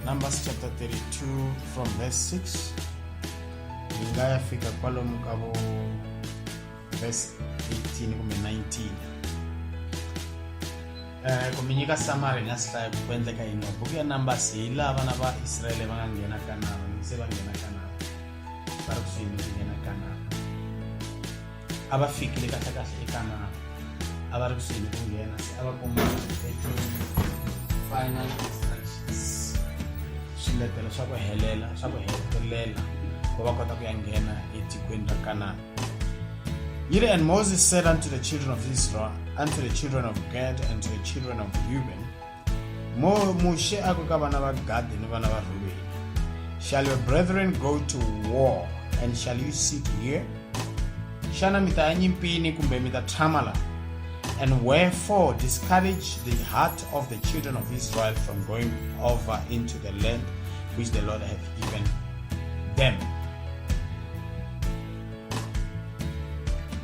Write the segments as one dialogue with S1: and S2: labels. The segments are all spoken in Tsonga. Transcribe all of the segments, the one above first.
S1: numbers chapter 32 from verse 6 yi nga ya fika kwalomu ka vo verse 18 kumbe 19 eh, ku mi nyika samari nga sihlaya ku ku endleka yini buku ya numbers hi laha vana va israele va nga nghena kanana se va nghena kanana va ri kusuhi ni ku nghena kanana a va fikile kahlekahle eka mama a va ri kusuhi ni ku nghena se a va kuma final instructions swiletelo swa ku helela swa ku hetelela ku va kota ku ya nghena etikweni ra kanana yiri and moses said unto the children of israel unto the children of gad and to the children of reuben Mo Mushe a ku ka vana va Gadi ni vana va Rubeni, Shall your brethren go to war and shall you sit here? Xana mi ta ya nyimpini kumbe mi ta tshama laha? And wherefore discourage the heart of the children of Israel from going over into the land which the Lord hath given them.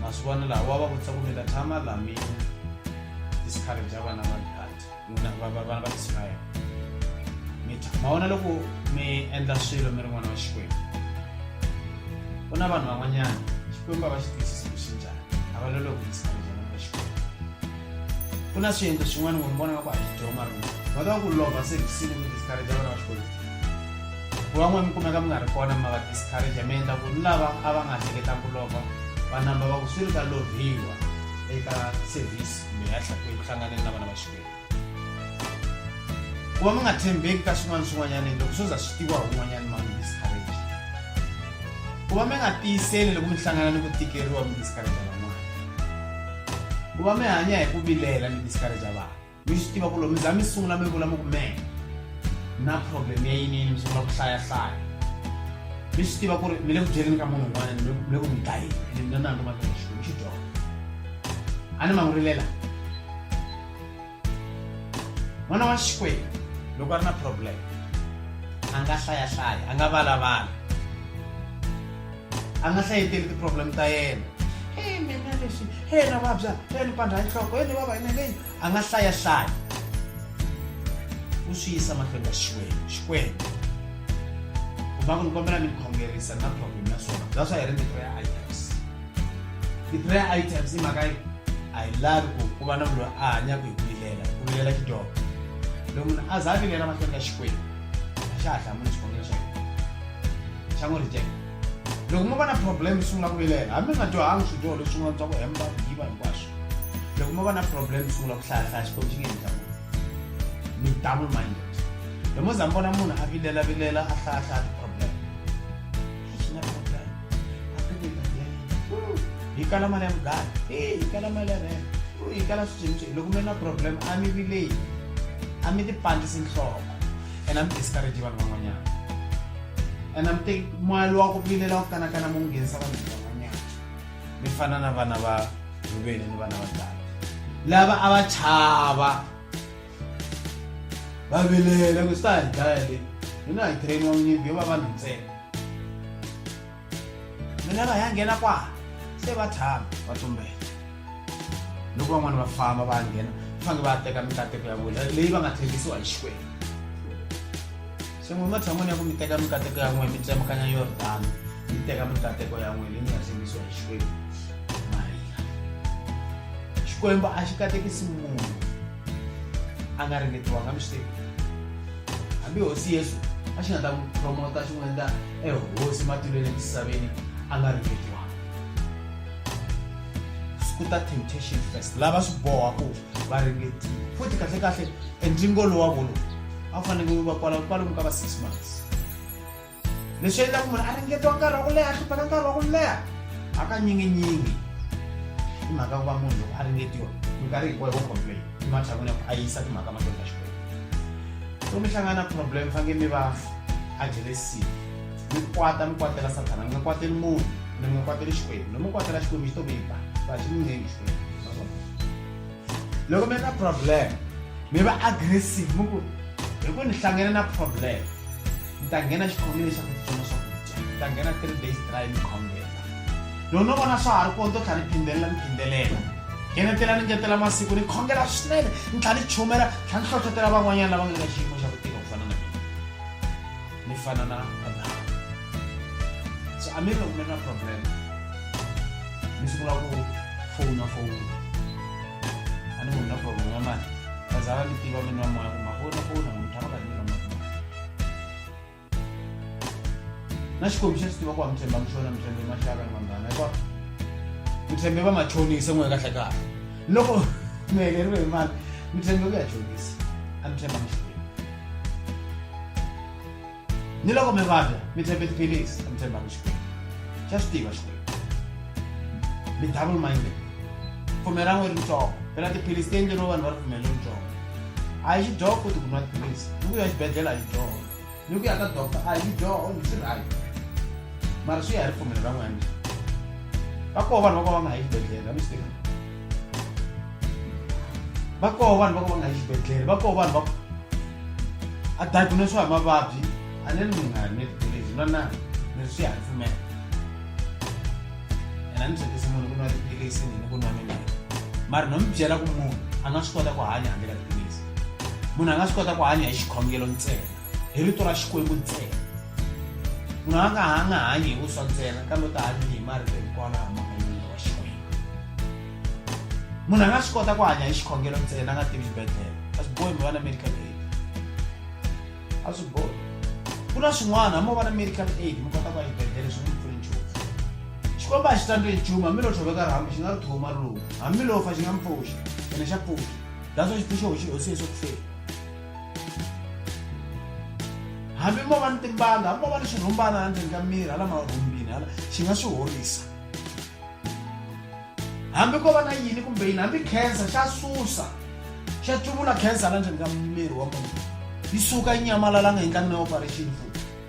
S1: Maswana lawa wa va kutsa ku mi ta tshama laha mi discourage vana va n'wina va- va- vana va israyele mi twa ma vona loko mi endla swilo mi ri n'wana wa xikwembu ku na vanhu van'wanyana xikwembu a va xi twisisi ku xi njhani a va lolohi ku twisisa ku njhani ka xikwembu ku na swiendlo swin'wana ku mi vona nga ku a xi dyoho marungu va ta va ku lova se kusini ku discourage vana va xikwembu ku van'wana mi kumeka mi nga ri kona ma va discourage mi endla ku ni lava a va nga hleketanga ku lova va namba va ku swi ri ka loviwa eka service kumbe ya tlha- eku hlanganeni na vana va xikwembu ku va mi nga tshembeki ka swin'wana swin'wanyana endla ku swo za swi tiviwa hi un'wanyana ma mi discourage ku va mi nga tiyiseli loko mi hlangana ni ku tikeriwa mi discourage van'wana ku va mi hanya hi ku vilela mi discourage vanhu mi swi tiva ku loko mi za mi sungula mi vula mi ku mehe na problem ya yinini mi sungula ku hlayahlaya mi swi tiva ku ri mi le ku byeleni ka munhu un'wana mi le ku mi dlayeni ene mina na ndo makexiku mi xi dyondza a ni mangurile laha n'wana wa xikwembu loko a ri na problem a nga hlayahlaya a nga valavala a nga hlayeteli ti-problem ta yena e mina leswi he na vabya he ni pandha nhloko he ni vava yina leyi a nga hlayahlaya u swi yisa mahlweni ka xikwembu xikwembu ku va ku ni kombela mi ni khongerisa na problem ya swona bya swa hi ri ni prayer ti-prayer items i mhaka yi a yi lavi ku ku va na munhu a hanyaka hi ku vilela ku vilela xidyoho loko munhu a za a vilela mahlweni ka xikwembu a xa ha hlamuli xivangelo xa xa n'wi reject loko mo va na problem sungula ku vilela hambi nga dyohangi swidyoho leswi sungula bya ku hemba ku yiva hinkwaswo loko mo va na problem sungula ku hlayahlaya xikwembu xi nge endla munhu mi double minded loko mo za mi vona munhu a vilela vilela a hlayahlaya yi kala mali ya mugari e yi kala mali ya rent yi kala swicinci loko mi ri na problem a mi vileyi a mi ti pandlisi nhloko and a mi discourage vanhu van'wanyana and a mi teki moya lowa ku vilela ku kanakana mu nghenisa vanhu van'wanyana mi fana na vana va rhuveni ni vana va dala lava a va chava va vilela ku swi ta hi dlaya le hina hi trainiwa nyimpi yo va vanhu ntsena mina va ya nghena kwala se va tshama va tumbela loko van'wana va famba va nghena fange va teka mikateko ya vona leyi va nga tshembisiwa hi xikwembu se n'we ematshan'wini ya ku mi teka mikateko ya n'we mi tsemukanya yordani mi teka mikateko ya n'we leyi mi nga tshembisiwa hi xikwembu marila xikwembu a xi katekisi munhu a nga ringetiwanga mi swi tivi hambi hosi yesu a xi nga ta n'wi promota xi n'wi endla ehosi matilweni emisaveni a nga ringetiwanga ku ta temptation first lava swi boha ku va ringetiwa futhi kahlekahle entlingo lowa volowu a fanele va kwala kwalomu ka va six months leswi endlaku munhu a ringetiwa nkarhi wa ku leha hlupheka nkarhi wa ku leha hakanyinyinyinyingi i mhaka ku va munhu loko a ringetiwa minkarhi hinkwayo wo complain ematshan'wini ya ku a yisa timhaka mahlweni ka xikwembu so mi hlangana na problem fange mi va ajeresini mi kwata mi kwatela sathana mi nga kwateli munhu mi mi nga kwateli xikwembu lomi kwatela xikwembu xi to mi ba va xi mi ngengi xikwembu loko mi ri na problem mi va aggressive mi ku hi ku ni hlangana na problem ni ta nghena xikhomini xa ku titsona swakudya ni ta nghena three days dry ni khongela loko no vona swa ha ri kona to tlha ni phindelela ni phindelela ngenetela ni ngetela masiku ni khongela swinene ni tlha ni chumela tlha ni hlohlotela van'wanyana lava nga ka xiyimo xa ku ni fana na Abrahamu. So amiri loko mi ri na problem mi sungula ku fowuna fowuna a ni munhu na problem ya mali kaza va mi tiva mi nwa moya ku mafowuna fowuna munhu tshama ka nilo na xikombiso xi tiva ku wa mi tshemba mi xona mi tshembe maxaka ni vanghana hikuva mi tshembe va machonisa n'we kahle kahle loko mi heleriwe hi mali mi tshembe ku ya chonisa a mi tshemba mi ni loko mi vabya mi tshembe tiphilisi a mi tshembanga xikwembu xa swi tiva xikwembu mi double minded pfumela ra n'we ri ntsongo phela tiphilisi ti endleriwe vanhu va ripfumelo ri ntsongo a yi xidyoho futi ku nwa tiphilisi ni ku ya xibedhlele a yi dyoho ni ku ya ka doctor a yi dyoho ni swi right mara swi ya hi ripfumelo ra n'wina va koho vanhu va ku va nga ha yi xibedhlele a mi swi tiva va koho vanhu va ka va nga yi xibedhlele va koho vanhu va a diagnoswa hi mavabyi a ni ri mi nga ni tiphilisi na na ni ri swi ya pfumela ena ni byekisi munhu ku nwa tiphilisi ni ku nwa mimirhi mara no mi byela ku munhu a nga swi kota ku hanya handle ka tiphilisi munhu a nga swi kota ku hanya hi xikhongelo ntsena hi rito ra Xikwembu ntsena. Munhu a nga ha nga hanyi hi vuswa ntsena kambe u ta hanya hi marito hinkwawo lama humaka emilwini wa Xikwembu. Munhu a nga swi kota ku hanya hi xikhongelo ntsena a nga tivi xibedhlele. A swi bohi mi va na medical aid. A swi bohi. Ku na swin'wana hambi u va na medical aid mi kota ku ya xibedhlele swi n'wi pfuni nchumu. Xikwembu a xi tsandzeki nchumu hambi lo tshoveka rhambi xi nga ri thuma ri luma. Hambi lo fa xi nga mi pfuxa ene xa pfuxa. That's why xi pfuxe hosi Yesu eku feni. hambi mo va ni timbanga hambi mo va ni swirhumbana hala ndzeni ka miri hala marhumbini hala xi nga swi horisa hambi ko va na yini kumbe yini hambi cancer xa susa xa tluvula cancer hala ndzeni ka miri wa munhu yi suka yi nyamalala nga hi ka mina operation futhi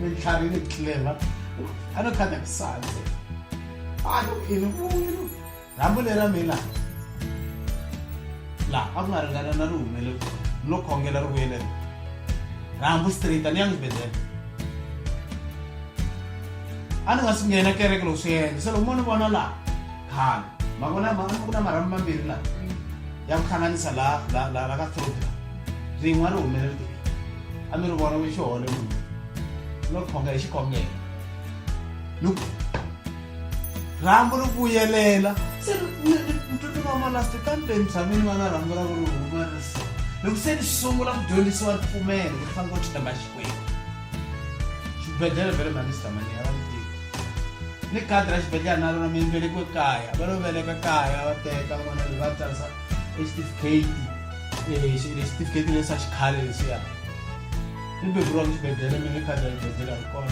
S1: Mintlhari ni clever. A no khanda ku sandze. A no ini ku yini? Rambo lera mina. La, a ku nga ringana na ri humele. No khongela ri vuyele. Rambo straight ni yang bedela. A ni nga swi nghena kereke loko swi yendla. Se loko mo ni vona la, khale. Ma vona ma ku na marhambu mambirhi la. ya ku hlanganisa la la la la ka thropi la rin'wa ri humelele ti a mi ri vona ku xihole munhu no khonga hi xikhongelo no rhambu ri vuyelela se ntutuma malasti kambe mzamini va na rhambu ra ku ri huma ri so loko se ni sungula ku dyondzisiwa ripfumelo ku fanele ku tlhamba xikwembu xibedhlele vele mhani sitamani a va ni tivi ni khadi ra xibedhlele na rona mi velekiwe kaya va lo veleka kaya va teka n'wana loyi va tsarisa exitifiketi xitifiketi lexi xa xikhale lexiya ni beburiwaka xibedhlele mi ni khadi ra xibedhlele a ri kona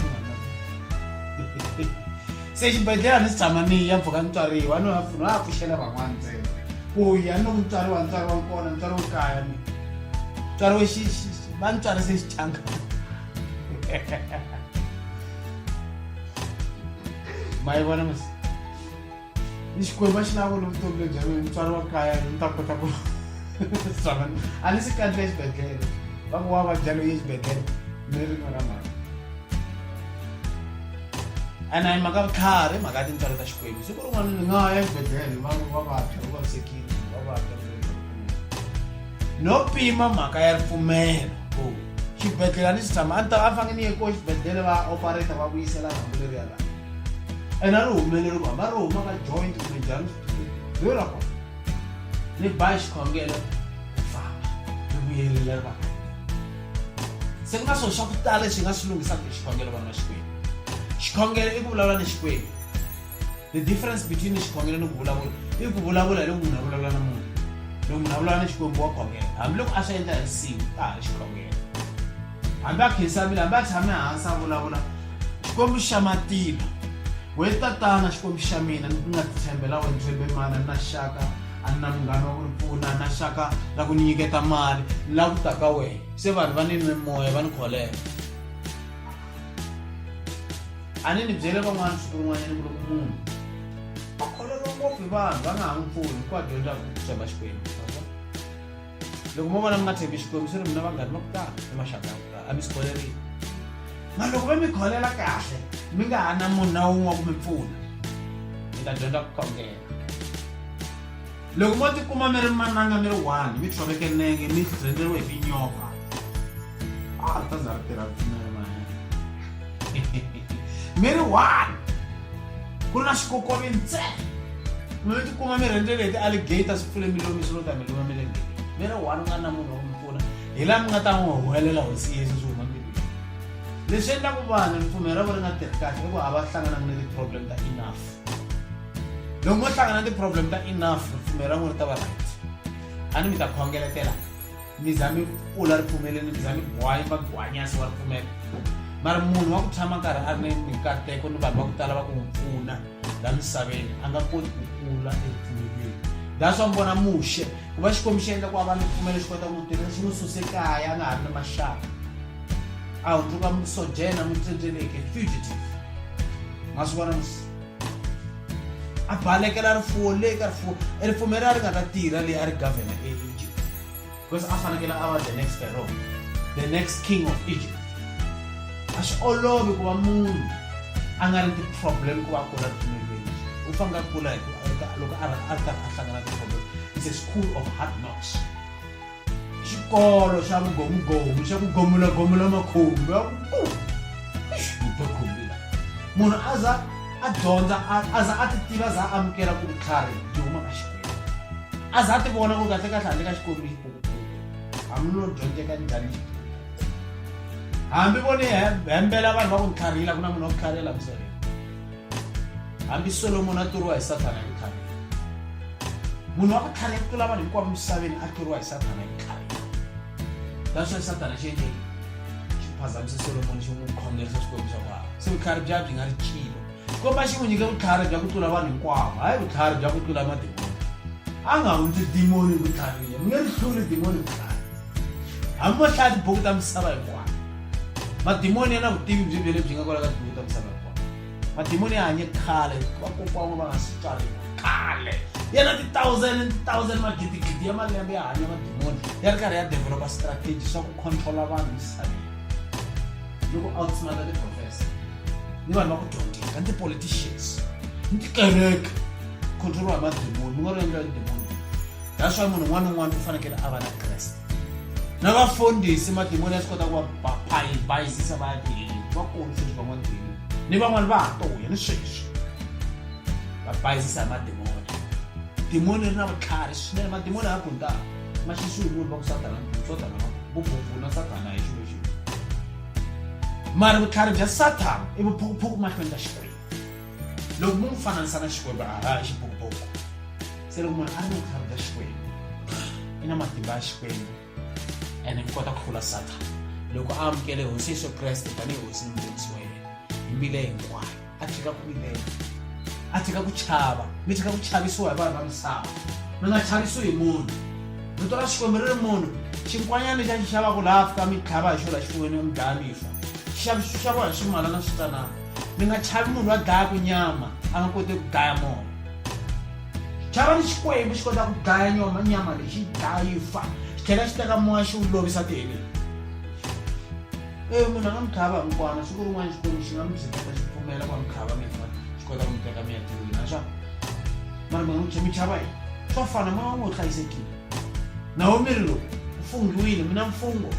S1: se xibedhlele a ni si tshama ni ya mpfhuka ni tswariwa ni no ha pfuxela van'wana ntsena ku ya ni loko ni tswariwa ni tswariwa kona ni tswariwe kaya ni tswariwe va ni tswarise xitanga ma yi vona masi ni xikwembu a xi lavo ni vutomi lebyi a mina mutswari wa kaya ni ta kota ku swavana a ni si kandle exibedhlele va ku wa vabya loyi exibedhlele ni rin'we ra mhaka ene a yi mhaka vutlhari mhaka ya tintswalo ta xikwembu siku rin'wana ni nga ya exibedhlele va va vabya va vavisekile va vabya no pima mhaka ya ripfumelo ku xibedhlele a ni xi tshama a ni ta va fange ni ye ko xibedhlele va operata va vuyisela rhambu leri ya laha ene a ri humeleli ku hamba ri huma ka joint kumbe njhani yo ra kona ni ba xikhongelo famba ri vuyelela ri va se ku nga swona swa ku tala leswi hi nga swi lungisaka hi xikhongelo vana va xikwembu xikhongelo i ku vulavula ni xikwembu the difference between xikhongelo ni ku vulavula i ku vulavula hi loko munhu a vulavula na munhu loko munhu a vulavula na xikwembu wa khongela hambiloko a swi endla hi risimu ka ha ri xikhongelo hambi a khensamile hambi a tshame hansi a vulavula xikwembu xa matima we tatana xikwembu xa mina ni nga titshembela wena tshembe mana na xaka a ni na munghana wa ku ni pfuna na xaka la ku ni nyiketa mali ni la ku ta ka wena se vanhu va ni nwe moya va ni kholeka a ni ni byele van'wana siku rin'wanyana ku loko munhu a kholeriwa ngopfu hi vanhu va nga ha n'wi pfuni ku a dyondza ku tshemba xikwembu loko mo vona mi nga tshembi xikwembu swi ri mina vanghani va ku tala ni maxaka ya ku tala a mi swi kholerile ma loko va mi kholela kahle mi nga ha na munhu na wun'we wa ku mi pfuna mi ta dyondza ku khongela loko mo tikuma mi ri mananga mi ri one mi tshoveke nenge mi rhendzeriwe hi tinyoka a ri ta za ri tirha ripfumelo mi ri one ku ri na xikokovi ntsena mi tikuma mi rhendzele hi ti-alligator swi pfule milomi swi lo ta mi luma mi le mi ri one u nga na munhu wa ku mi pfuna hi laha mi nga ta n'wi huwelela hosi yesu swi huma mbilwini leswi endlaku vanhu ripfumelo ra vo ri nga tirhi kahle i ku a va hlanganangi ni ti-problem ta enough loko mo hlangana ti-problem ta enough ripfumelo ra n'wina ri ta va right a ni mi ta khongeletela mi za mi kula ripfumeleni mi za mi gwanya va gwanyasi wa ripfumelo mara munhu wa ku tshama nkarhi a ri ni mikateko ni vanhu va ku tala va ku n'wi pfuna la misaveni a nga koti ku kula eripfumelweni that's wa mi vona muxe ku va xikwembu xi endla ku a va ni ripfumelo xi kota ku tirhisa xi n'wi suse kaya a nga ha ri ni maxaka aho toka musojena mutendeleke fugitive masivona musi abalekela rifuwo leyi ka rifuwo ripfume ra ri nga ta tirha leyi a ri governor eegypt because a fanekele a va the next pharaoh the next king of egypt a swi olovi ku va munhu a nga ri ti-problem ku va kula ripfumelweni u fanele a kula hi loko a ri karhi a hlangana ti-problem it's a school of hard knocks xikolo xa vugomugomu xa ku gomulagomula makhumbi ya ku uta khumbiwa munhu a za a dyondza a za a ti tiva a za a amukela ku vutlhari byi huma ka xikwembu a za a ti vona ku kahle kahle handle ka xikwembu yi hambi no dyondzeka njhani hambi voni hembela vanhu va ku ni tlharihila ku na munhu wa ku tlharihela misaveni hambi solomoni a tluriwa hi sathana hi khale munhu wa ku khale ku tlula vanhu hinkwavo misaveni a tluriwa hi sathana hi khale that's why sathana xi endleki xi phazamise solomoni xi n'wi khongerisa xikwembu xa vana se vutlhari bya byi nga ri chilo xikomba xi n'wi nyike vutlhari bya ku tlula vanhu hinkwavo hayi vutlhari bya ku tlula madimoni a nga hundzi dimoni vutlhariya mi nge ri hluli dimoni vutlhari hambi va hlaya tibuku ta misava hinkwayo madimoni ya na vutivi byi bye lebyi nga kwala ka tindhawu ta misava hinkwayo madimoni ya hanye khale vakokwan'we va nga si tswariwa khale ya na ti-thousand and thousand magidigidi ya malembe ya hanya madimoni ya ri karhi ya developa strategy swa ku controla vanhu misaveni loko outsmarta ti-professor ni vanhu va ku dyondzeka ni ti-politicians ni tikereke controliwa hi madimoni mi nga ri endliwa hi demoni that's why munhu un'wana na un'wana u fanekele a va na kreste na vafundhisi madimoni ya swi kota ku va bayizisa va ya tiheli va kona sweswi van'wana tiheli ni van'wana va ha toya ni sweswi va bayizisa hi madimoni dimoni ri na vutlhari swinene madimoni ha bundaka ma xisiwi munhu va ku satana satana vububuna satana hi xilo xilo mari vutlhari bya sathana i vuphukuphuku mahlweni ka xikwembu loko mo n'wi fananisa na xikwembu a ha xibokoboko se loko munhu a ri na vutlhari bya xikwembu i na matimba ya xikwembu and mi kota ku hlula sathana loko a amukele hosi yesu kreste tanihi hosi ni mudyondzisi wa yena hi mbile hinkwayo a tshika ku vilela a tshika ku chava mi tshika ku chavisiwa hi vanhu va misava mi nga chavisiwi hi munhu rito ra xikwembu ri ri munhu xinkwanyana xa xi xavaka laha fika mi tlhava hi xona xifunweni mi dlaya mi fa xixaviso xi xaviwa hi swimala na switanana mi nga chavi munhu wa dlaya ku nyama a nga koti ku dlaya mona chava ni xikwembu xi kota ku dlaya nyama nyama leyi xi dlaya yi fa xi tlhela xi teka moya xi wu lovisa tiheleni e munhu a nga mi tlhava mukwana siku rin'wana xikwembu xi nga mi byeketa xi pfumela ku va mi tlhava mifa xi kota ku mi teka mi ya tirhweni naswa mara mi nga mi chava yini swa fana moya wu ngo hlayisekile naomi ri lowu u funghiwile mina mfungo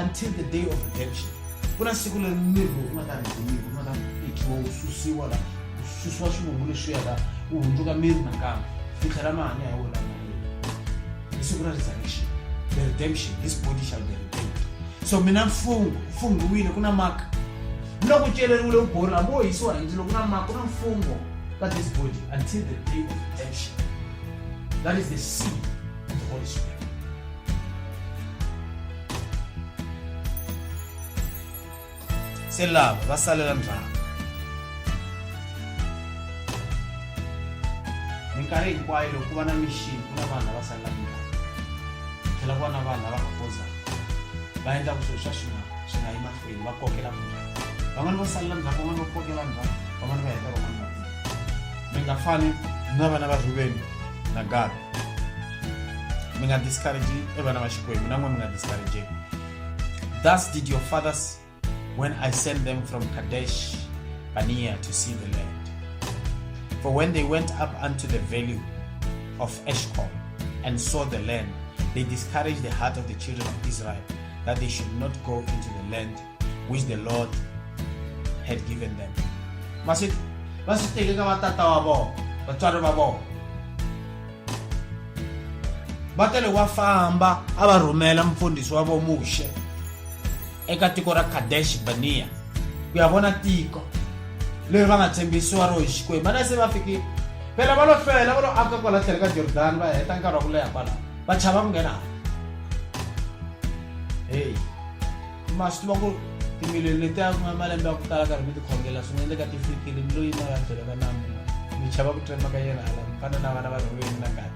S1: until the day of redemption ku na siku leri miri lowu nga ta rhendzemiwa u nga ta tekiwa wu susiwa la wu susiwa swivungu leswiya la wu hundzuka miri nakambe ku tlhela mahanya ya wena hi siku ra resurrection the redemption his body shall be redeemed so mina mfungo u funghiwile ku na maka ni loko celeriwile u borha hambi wo hisiwa hi ndzilo ku na maka ku na mfungo ka this body until the day of redemption That is the seed of the Holy Spirit. se lava va salela ndzhaku minkarhi hinkwayo loko ku va na mixini ku na vanhu lava salela ndzhaku tlhela ku va na vanhu lava nga kozaka va endla ku swilo swa swi nga swi nga yi vanhu va kokela van'wana va salela ndzhaku van'wana va kokela ndzhaku van'wana va heta van'wana va mi nga fani na vana va rhuveni na gada mi nga discourage e vana va xikwembu na n'wana mi nga discourageki thus did your fathers when i sent them from kadesh bania to see the land for when they went up unto the valley of eshcol and saw the land they discouraged the heart of the children of israel that they should not go into the land which the Lord had given them. Va swi va swi teke ka vatata wa vona, vatswari va vona. Va tele wa famba a va rhumela mfundhisi wa vona Muxe eka tiko ra Kadesh Barnea ku ya vona tiko leri va nga tshembisiwa ro hi Xikwembu. Vana se va fikile phela va lo hlwela va lo aka kwala tlhelo ka Jordani va heta nkarhi wa ku leha kwalaho. va chava ku nghena heyi ma swi tiva ku timiliyoni leti a ku nga malembe ya ku tala karhi mi tikhongela swi nga endleka ti fikile mi loyi mara byela va namu mi chava ku trema ka yena hala mi fana na vana va rhulweni na kale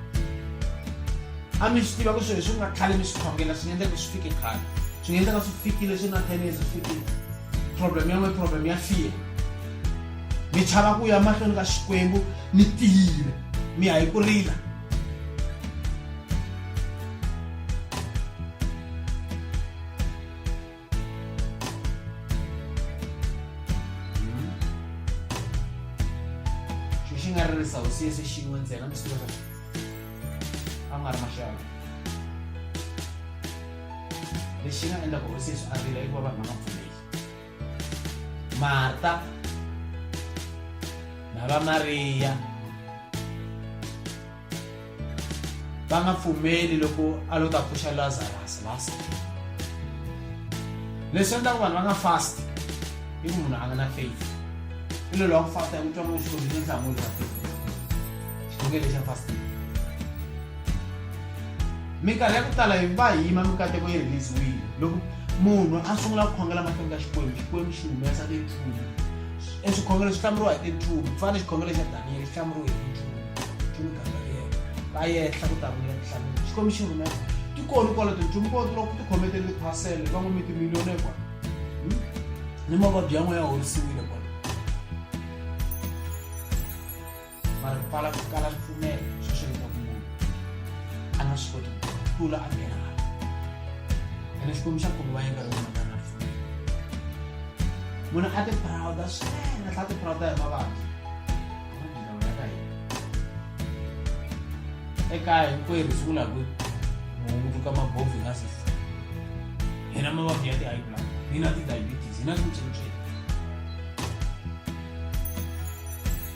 S1: a mi swi tiva ku swilo leswi ku nga khale mi swi khongela swi nga endleka swi fike khale swi nga endleka swi fikile swi na ten years swi fikile problem yan'we problem ya fear mi chava ku ya mahlweni ka xikwembu mi tiyile mi ya hi ku rila siese xin'we ntsena mi swi a nga ri maxava lexi nga endla ku hosi yesu a rila hikuva vanhu va nga pfumeli marta na va mariya va nga pfumeli loko a lo ta pfuxa lazarus last leswi endlaka vanhu va nga fast i ku munhu a nga na faith i lolo wa ku fasta ya ku twa n'wi xikombiso nhlamulo xa faith xikongele xa fasting minkarhi ya ku tala hi va hi yima mikateko yi release-wile loko munhu a sungula ku khongela mahlweni ka xikwembu xikwembu xi humesa tinchumu e swikhongelo swi hlamuriwa hi tinchumu ku fana xikhongelo xa daniyeli xi hlamuriwe hi tinchumu nchumu gabriel va yehla ku ta vuya tinhlamulo xikwembu xi rhumesa ti koni kwalo tinchumu ko loko ti khometele tiphasele va n'wi mi timiliyoni kwa hmm? ni mavabyi yan'we ya horisiwile kwa mara ku pfala ku kala ripfumelo swi swi leta ku munhu a nga swi koti ku tlula a nghena a ene xikwembu xa khulu va yinga loko munhu a nga ripfumelo munhu a tiphrawuda swinene tlha tiphrawuda hi mavabyi ekaya hinkwerhu siku la ku hungutuka mabovhi nga si hina mavabyi ya ti-high blood hina ti-diabetes hina swintswintswini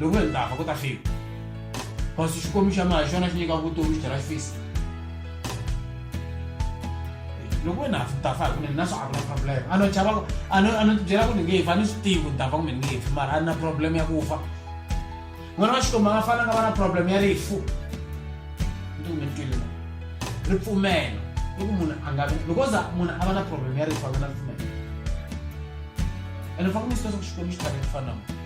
S1: loko hi ta fa ku ta fika kasi xikwembu xa mina hi xona xi nyika vutomi xi tlhela xi fisa loko wena ni ta fa hi kunene na swo a ku na problem a no chava a no a no tibyela ku ni nge fa ni swi tivi ku ni ta fa kumbe ni nge fi mara a ni na problem ya ku fa n'wana wa xikwembu a nga fananga va na problem ya rifu ni ti kumbe ni twile ripfumelo i ku munhu a nga vi loko za munhu a va na problem ya rifu a nga na ripfumelo ene fa ku ni swi leswaku xikwembu xi tshame ku fana na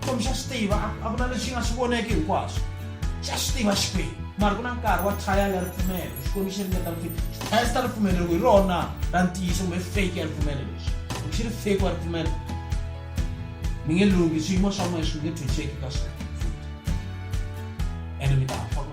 S1: Xikwembu xa swi tiva, a, a ku na lexi nga swi voneki hinkwaswo. Xa swi tiva Xikwembu. Mara ku na nkarhi wa trial ya ripfumelo. Xikwembu xi ringeta ripfumelo. Xi testa ripfumelo loko hi rona ra ntiyiso kumbe fake ya ripfumelo lexi. Loko xi ri fake wa ripfumelo, mi nge lunghi swiyimo swa n'wina swi nge tshunxeki ka swona. Ene mi ta fa ku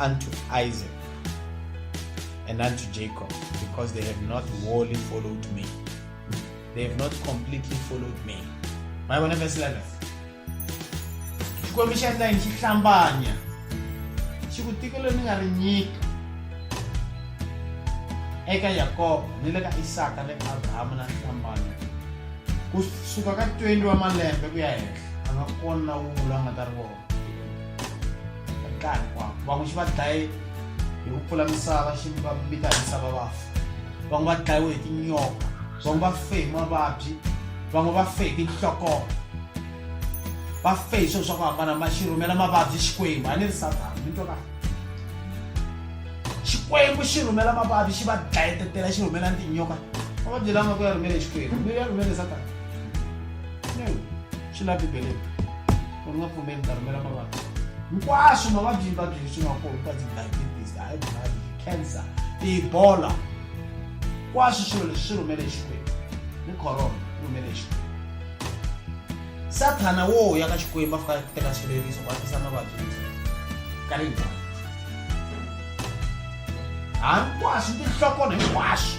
S1: unto Isaac and unto Jacob, because they have not wholly followed me. They have not completely followed me. My one verse 11. xikwembu xi endla yini xi hlambanya xi ku tiko leri ni nga ri nyika eka yakobo ni le ka isaka le ka abrahamu na hlambanya ku suka ka 20 wa malembe ku ya henhla a nga kona na wun'we loyi a nga ta ri vona nkarhi kwavo van'we xi va dlaye hi ku pfula misava xi va mita hi misava vafa van'we va dlayiwe hi tinyoka van'we va fe hi mavabyi van'we va fe hi tinhlokoo va fe hi swilo swa ku hambana ma xi rhumela mavabyi xikwembu a ni ri satana mi twa kahle xikwembu xi rhumela mavabyi xi va dlayetetela xi rhumela ni tinyoka mavabyi lama ku ya rhumele xikwembu mi ya rhumele satana swi la bibeleni u nga pfumeli ta rhumela mavabyi hinkwaswo mavabyi yi vabyi leswi nga kona ka ti-diabetes high blood cancer tibola kwaswo swilo leswi swi rhumele exikwembu ni corona yi rhumele exikwembu sathana wo ya ka xikwembu a fika a teka swileriso ku atisa mavabyi ka ri njhani hinkwaswo tinhlokona hinkwaswo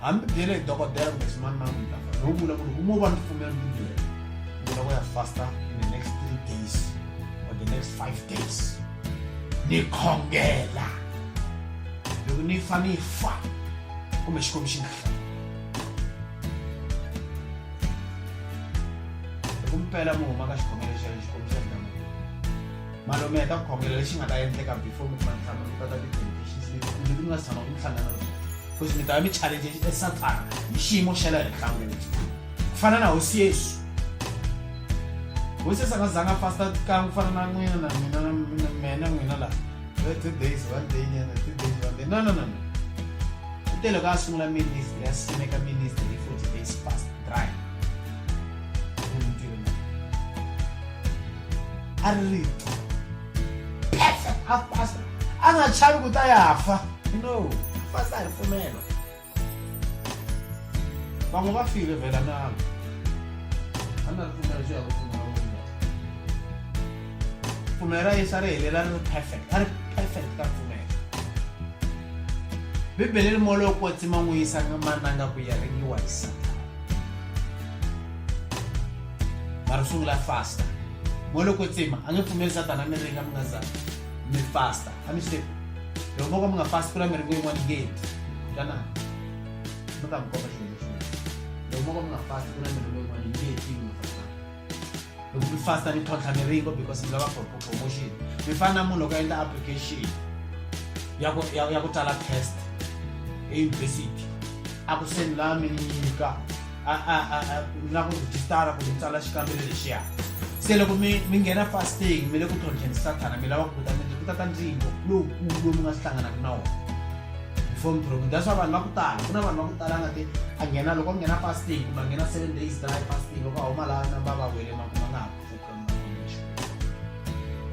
S1: hambi byele hi dokodela kumbe ximani mani mi ta fa no vula ku ri kumo va ni pfumela mi byele ni loko ya fasta in the next three days or the next five days ni khongela loko ni fa ni fa kumbe xikwembu xi nga hla loko mi pela mi huma ka xikhongelo xa xikwembu xa ndhamu malume ya ta khongela lexi nga ta endleka before mi kuma ntlhanu mi kota ti-temptations leti kumbe ti nga si tshama ku hlangana because mi ta va mi challenge e sathana hi xiyimo xa le henhla ngopfu ku fana na hosi yesu hosi yesu a nga zanga fasta kan'we ku fana na n'wina na mina na mina n'wina laha two days one day nyana two days one day no no no u te loko a sungula ministry a simeka ministry hi forty days fast dry a ri rito perfect half past a nga chavi ku ta ya fa no half past a hi pfumelo van'we va file vhela nalo a na ri pfumelo xo ya ku pfumela pfumelo ra yesu a ri helela ri ri perfect a ri perfect ka pfumelo bibele ri molo ku tsima n'wi yisa mananga ku ya ringiwa hi satana mara sungula fasta mo loko tsima a nge pfumeli satana mi ringa mi nga za mi fasta a mi swi tivi loko mo ka mi nga fasti ku na miringo yin'wana yi nge heti kana mi ka mi komba xilo lexi loko mo ka mi nga fasti ku na miringo yin'wana yi nge heti mi fasta loko mi fasta mi tlhontlha miringo because mi lava for promotion mi fana na munhu loko a endla application ya ku ya ya ku tsala test eyunivhesiti a ku sendela mi nyika mi lava ku rhejistara ku tsala xikambelo lexiya se loko mi mi nghena fasting mi le ku tlhontlheni sathana mi lava ku kuta miti ku tata ntlimbo lowukulu lowu mi nga swi hlanganaka na wona before mi program that's why vanhu va ku tala ku na vanhu va ku tala nga ti a nghena loko a nghena fasting kumbe a nghena seven days dry fasting loko a huma laha namba va wele makuma nga ha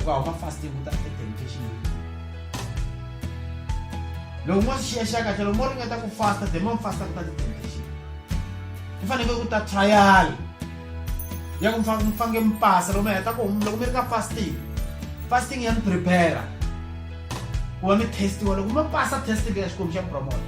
S1: uka huma fast yekuta attention loko mo xiya xa kahle loko mo ringeta ku fasta the mo fasta kuta attention ku faneke ku ta trial ya ku mfange mi pasa loko mi heta ku loko mi ri ka fasting fasting ya mi prepare ku va mi testiwa loko mi pasa test leya xikwembu xa promote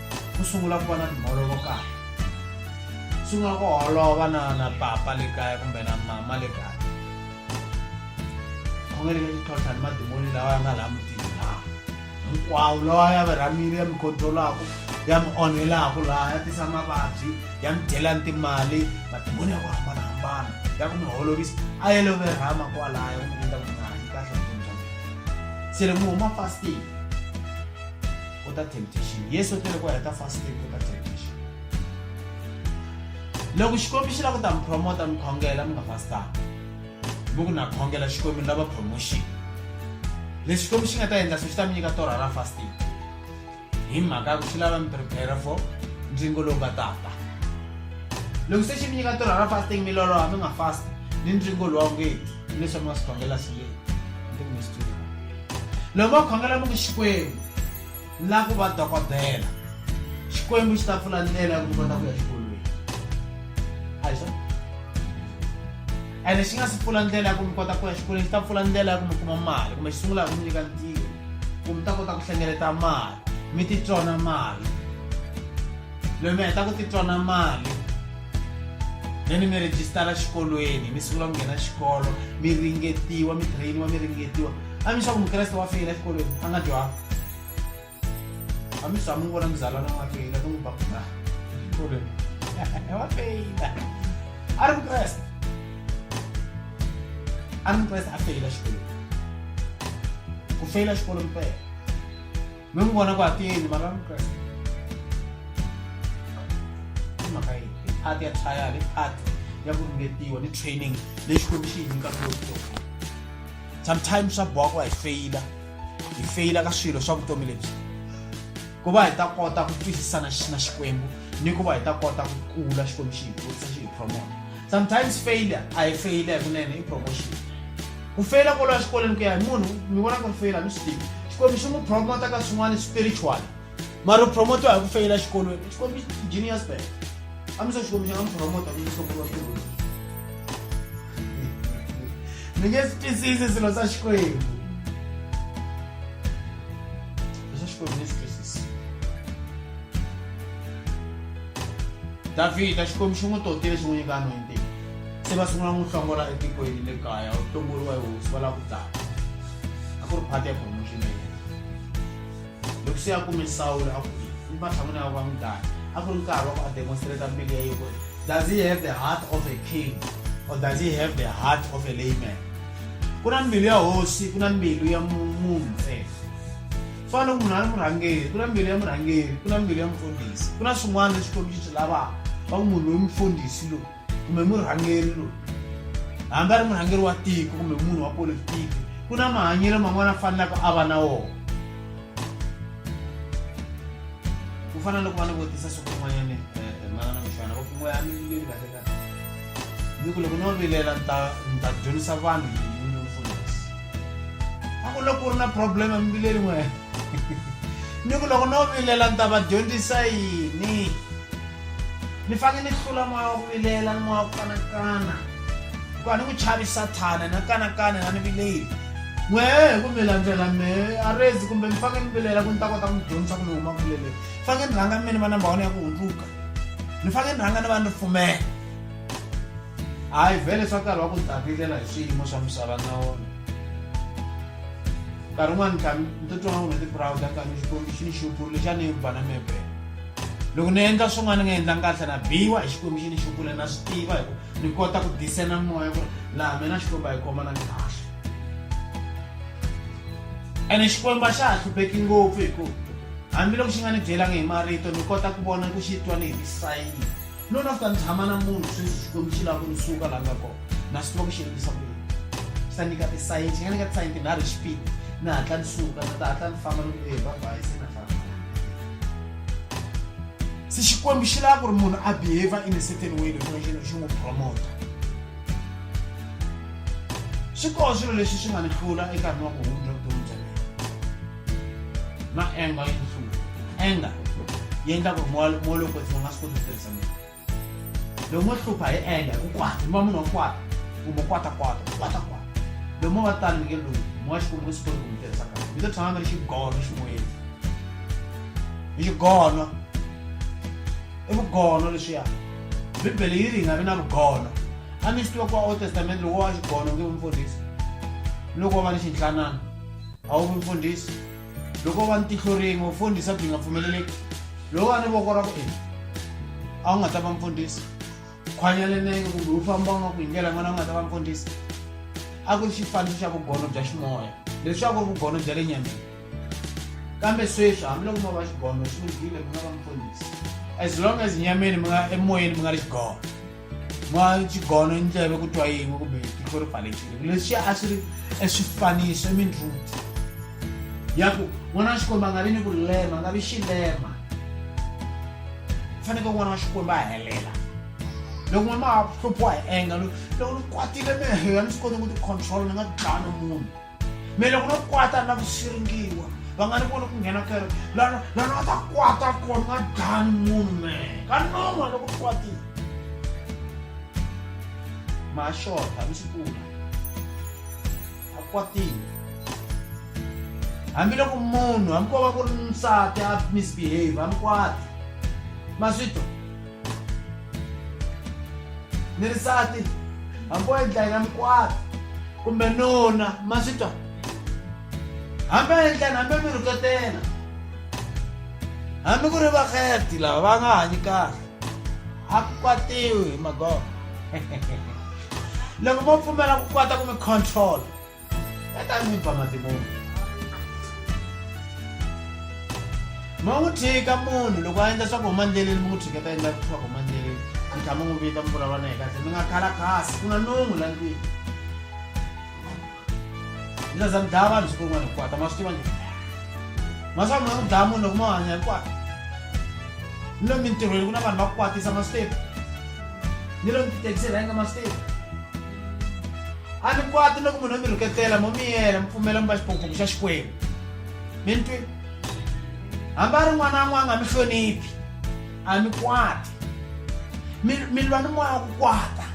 S1: ku sungula ku va na timholovo kaya swi nga ku holova na na papa le kaya kumbe na mama le kaya khongeleke xitlhotlha ni madimoni lawa ya nga laha mutini laha hinkwawo lawa ya mi rhamile ya mi controlaka ya mi onhelaka laha ya tisa mavabyi ya mi dyela ni timali madimoni ya ku hambanahambana ya ku mi holovisa a ya lo mi rhama kwalaya ku mi endla ku nga hanyi kahle vutomi bya mina se le mi huma fasting o ta temptation yesu u tele ku heta fasting o ta temptation loko xikwembu xi lava ku ta mi promota mi khongela mi nga fastanga mi ku na khongela xikwembu ni lava promotion lexi xikwembu xi nga ta endla swo xi ta mi nyika torha ra fasting hi mhaka ya ku xi lava mi prepare for ntlingo lowu nga tata loko se xi mi nyika torha ra fasting mi loloha mi nga fast ni ntlingo lowa ngeti leswi mi nga swi khongela swi leyi loko va khongela mi ku xikwembu ni lava ku va dokodela xikwembu xi ta pfula ndlela ya ku mi kota ku ya xikolweni a hi swona ene xi nga si pfula ndlela ya ku mi kota ku ya xikolweni xi ta pfula ndlela ya ku mi kuma mali kumbe xi sungula hi ku mi nyika ntirho ku mi ta kota ku hlengeleta mali mi titsona mali loyi mi heta ku titwana mali leni mi rejistara xikolweni mi sungula ku nghena xikolo mi ringetiwa mi trainiwa mi ringetiwa a mi xaku mukreste wa feyila exikolweni a nga dyanga a mi swa mi vona muzalwana wa feyila ni n'wi bakula exikolweni wa feyila a ri mukreste a ri mukreste a feyila xikolweni ku feyila xikolo mpela mi n'wi vona ku a tiyeni mara mukreste i mhaka yi i part ya trial i part ya ku ringetiwa ni training leyi xikwembu xi yi nyikaka yo vutomi sometimes swa boha ku va hi feyila hi feyila ka swilo swa vutomi lebyi ku va hi ta kota ku twisisana na xikwembu ni ku va hi ta kota ku kula xikwembu xi hi kurisa xi hi promota sometimes failure a hi feyila hi kunene i promotion ku feyila kolo ya xikolweni ku ya hi munhu mi vona ku ri feyila mi swi tivi xikwembu xi n'wi promota ka swin'wana spiritual mara u promotiwa hi ku feyila xikolweni xikwembu genius bag a mi se xikwembu xi nga mi promota ku hlokuriwa tirhweni mi nge swi twisisi swilo swa xikwembu leswa xikwembu ni swi twisisi Davhida, Xikwembu xi n'wi totile xi n'wi nyika anointing. Se va sungula n'wi hlongola etikweni le kaya, u hlongoriwa hi hosi va lava ku dlaya. A ku ri part ya promotion ya yena. Loko se a kume Sawule a ku yini? Matshan'wini ya va n'wi dlaya. A ku ri nkarhi wa ku a demonstrate mbilu ya yena ku ri does he have the heart of a king or does he have the heart of a layman? Ku na mbilu ya hosi, ku na mbilu ya munhu ntsena. fana loko munhu a ri murhangeri ku na mbiri ya murhangeri ku na mbiri ya mufundhisi ku na swin'wana leswi kombi swi lavaka va ku munhu loyi mufundhisi lowu kumbe murhangeri lowu hambi a ri murhangeri wa tiko kumbe munhu wa politiki ku na mahanyelo man'wana a fanelaka a va na wona ku fana loko va ni vutisa siku rin'wanyana um eh, eh, manana muxana va ku n'weyani leyi kahle ni ku loko no vilela ni ta ni ta dyondzisa vanhu hi mindfulness a ku loko ku ri na problem emibileli n'we ni ku loko no vilela ni ta va dyondzisa yini ni fanele ni hlula moya wa ku vilela ni moya wa ku kanakana hikuva ni ku chavi sathana na kanakana na ni vileli n'we hi ku mi landzela me a rezi kumbe mi fanele mi vilela ku ni ta kota ku mi dyondzisa ku mi huma ku vileleni fanele ni rhanga mina va namba wani ya ku hundzuka ni fanele ni rhanga ni va ni pfumela hayi vhele swa nkarhi wa ku dakilela hi swiyimo swa misava na wona nkarhi wun'wani ka ni titwa nga wona ti-browda ka ni xikwembu xi ni xupulu lexi a ni yi bana mebele loko ni endla swin'wana ni nga endlangi kahle na biwa hi xikwembu xi ni xupule na swi tiva hi ku ni kota ku disena moya ku ri laha mina xikwembu a yi khoma na ni kahle ene xikwembu a xa ha hlupheki ngopfu hikuva Hambiloko xi nga ni byelangi hi marito, ni kota ku vona ku xi twa ni hi misayini. No na ta tshama na munhu sweswi Xikwembu xi lava ku ni suka laha nga kona, na swi tiva ku xi endlisa ku yini. Xi ta nyika tisayini, xi nga nyika tisayini tinharhu hi xipidi, ni hatla ni suka, ni ta hatla ni famba ni ku e bye-bye se na famba. Se Xikwembu xi lava ku ri munhu a behavior in a certain way leswaku xi xi n'wi promota. Swi koho swilo leswi swi nga ni hlula enkarhini wa ku hundza vutomi bya mina. na anger yi hlula anger yi endla ku ri moya moya lowu kwetsima u nga swi koti ku tirhisa munhu loko mo hlupha hi anger hi ku kwata mi va munhu wa kwata kumbe kwata kwata kwata kwata loko mo va tani mi nge lunghi moya xikwembu nge swi koti ku mi tirhisa kahle mi to tshama mi ri xigono ximoyeni hi xigono i vugono leswiya bibele yi ri hi nga vi na vugono a mi swi tiva ku wa old testament loko wa xigono nge mfundhisi loko wa va ni xinhlanana awu mfundisi loko va ni tihlo rin'we mfundhisa byi nga pfumeleleki loko va ni voko ra ku ina a wu nga ta va mfundhisi khwanya lenenge kumbe wu famba u nga ku hi ndlela yin'wana a wu nga ta va mfundhisi a ku ri xifaniso xa vugono bya ximoya leswi a ku ri vugono bya le nyameni kambe sweswi hambiloko mo va xigono swi lunghile mi nga va mfundhisi as long as nyameni mi nga emoyeni mi nga ri xigono n'wana xigono i ndleve ku twa yin'we kumbe tihlo ri pfalekile leswi a swi ri eswifaniso i mindluthu ya ku n'wana wa xikwembu a nga vi ni ku lema a nga vi xilema faneke n'wana wa xikwembu a helela loko n'wana ma hluphiwa hi enga loko ni kwatile mehlo ya ni swi koti ku ti-control ni nga ti dlani munhu mele ku no kwata na ku siringiwa va nga ni voni ku nghena kere lana lana va ta kwata kona nga dani munhu me ka non'wa loko u kwatile ma xota mi swi pfuna a kwatile hambiloko munhu hambi ko va ku ri nsati a misbehave a mi kwati ma swi twa ni ri sati hambi o endla yina mikwata kumbe nuna ma swi twa hambi a endlani hambi mi rhuketela hambi ku ri vakheti lava va nga hanyi kahle a ku kwatiwi hi magogo loko mo pfumela ku kwata ku mi control ẹ tá mi bá máa ti mú un. mawuthika munhu loko a endla swa ku huma ndleleni mi n'wi thiketa endla swa ku huma ndleleni mi tlhama n'wi vita mi vulavula na ye kahle mi nga khala kasi ku na nungu la ndlwini mi ta za mi dlaya vanhu siku rin'wana hikwata ma swi tiva njhani ma swa mi nga n'wi dlaya munhu loko ma hanya hikwata ni lomu mintirhweni ku na vanhu va ku kwatisa ma swi tiva ni lomu tithekisi rhenga ma swi tiva a ni kwati loko munhu mi rhuketela mo mi yena mi pfumela mi va xiphongphongo xa xikwembu mi ni twi hambi a ri n'wana a n'wanga mi hloniphi a mi kwati mi mi lwa ni moya wa ku kwata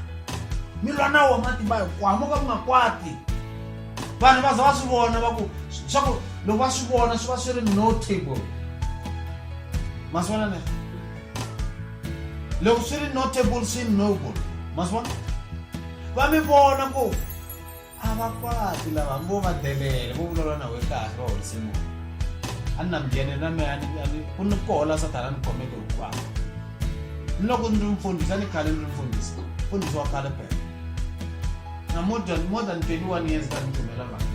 S1: mi lwa na wo matimba hinkwawo mo ka mi nga kwati vanhu va za va swi vona va ku swa ku loko va swi vona swi va swi ri notable ma swi vona ne loko swi ri notable swi noble masivona va mi vona ku a va kwati lava ngo va delele vo vulavula na we kahle va horise munhu a ni na migene na meya ku ni kohola sathana ni khomeke hinkwawo ni loko ni ri mfundhisi a ni khale ni ri mfundhisi mfundhisi wa khale pela na more than more than 21 years ka ni tumela mhaka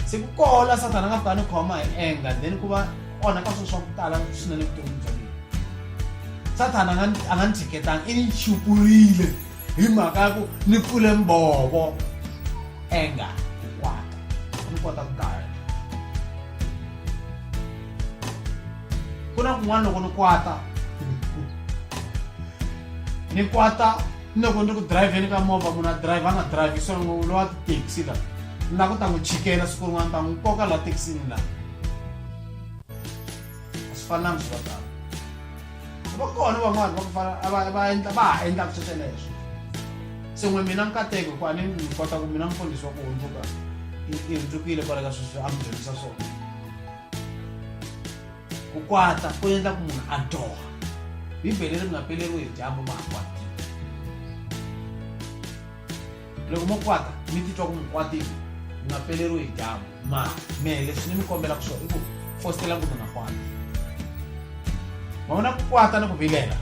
S1: se ku kola sathana nga tani khoma hi enga then ku va onha ka swilo swa ku tala swinene vutomi bya mina sathana a nga ni tshiketanga i ni chupurile hi mhaka ya ku ni pfule mbovo enga ku kwata ni kota ku gaya ku na kun'wana loko ni kwata ni kwata ni loko ni ri ku dirayivheni ka movha munhu a dirayivha a nga dirayivhi so ngo lowa tithekisi la na ku ta n'wi chikela siku rin'wana ta n'wi koka laha thekisini la a swi fanelanga swi va tano va kona van'wani va ku fana va endla va ha endlaka swo sweleswo se n'we mina nkateko hikuva ni ni kota ku mina mfundhisi wa ku hundzuka i hundzukile kwale ka sweswi a mi dyondzisa swona ku kwata ku endla ku munhu a dyoha bibele ri nga peleriwi hi dyambu ma ha kwatile loko mo kwata mi titwa ku mi kwatile mi nga peleriwi hi dyambu ma mehe leswi ni mi kombela ku swona i ku fostela ku mi nga kwati ma vona ku kwata ni ku vilela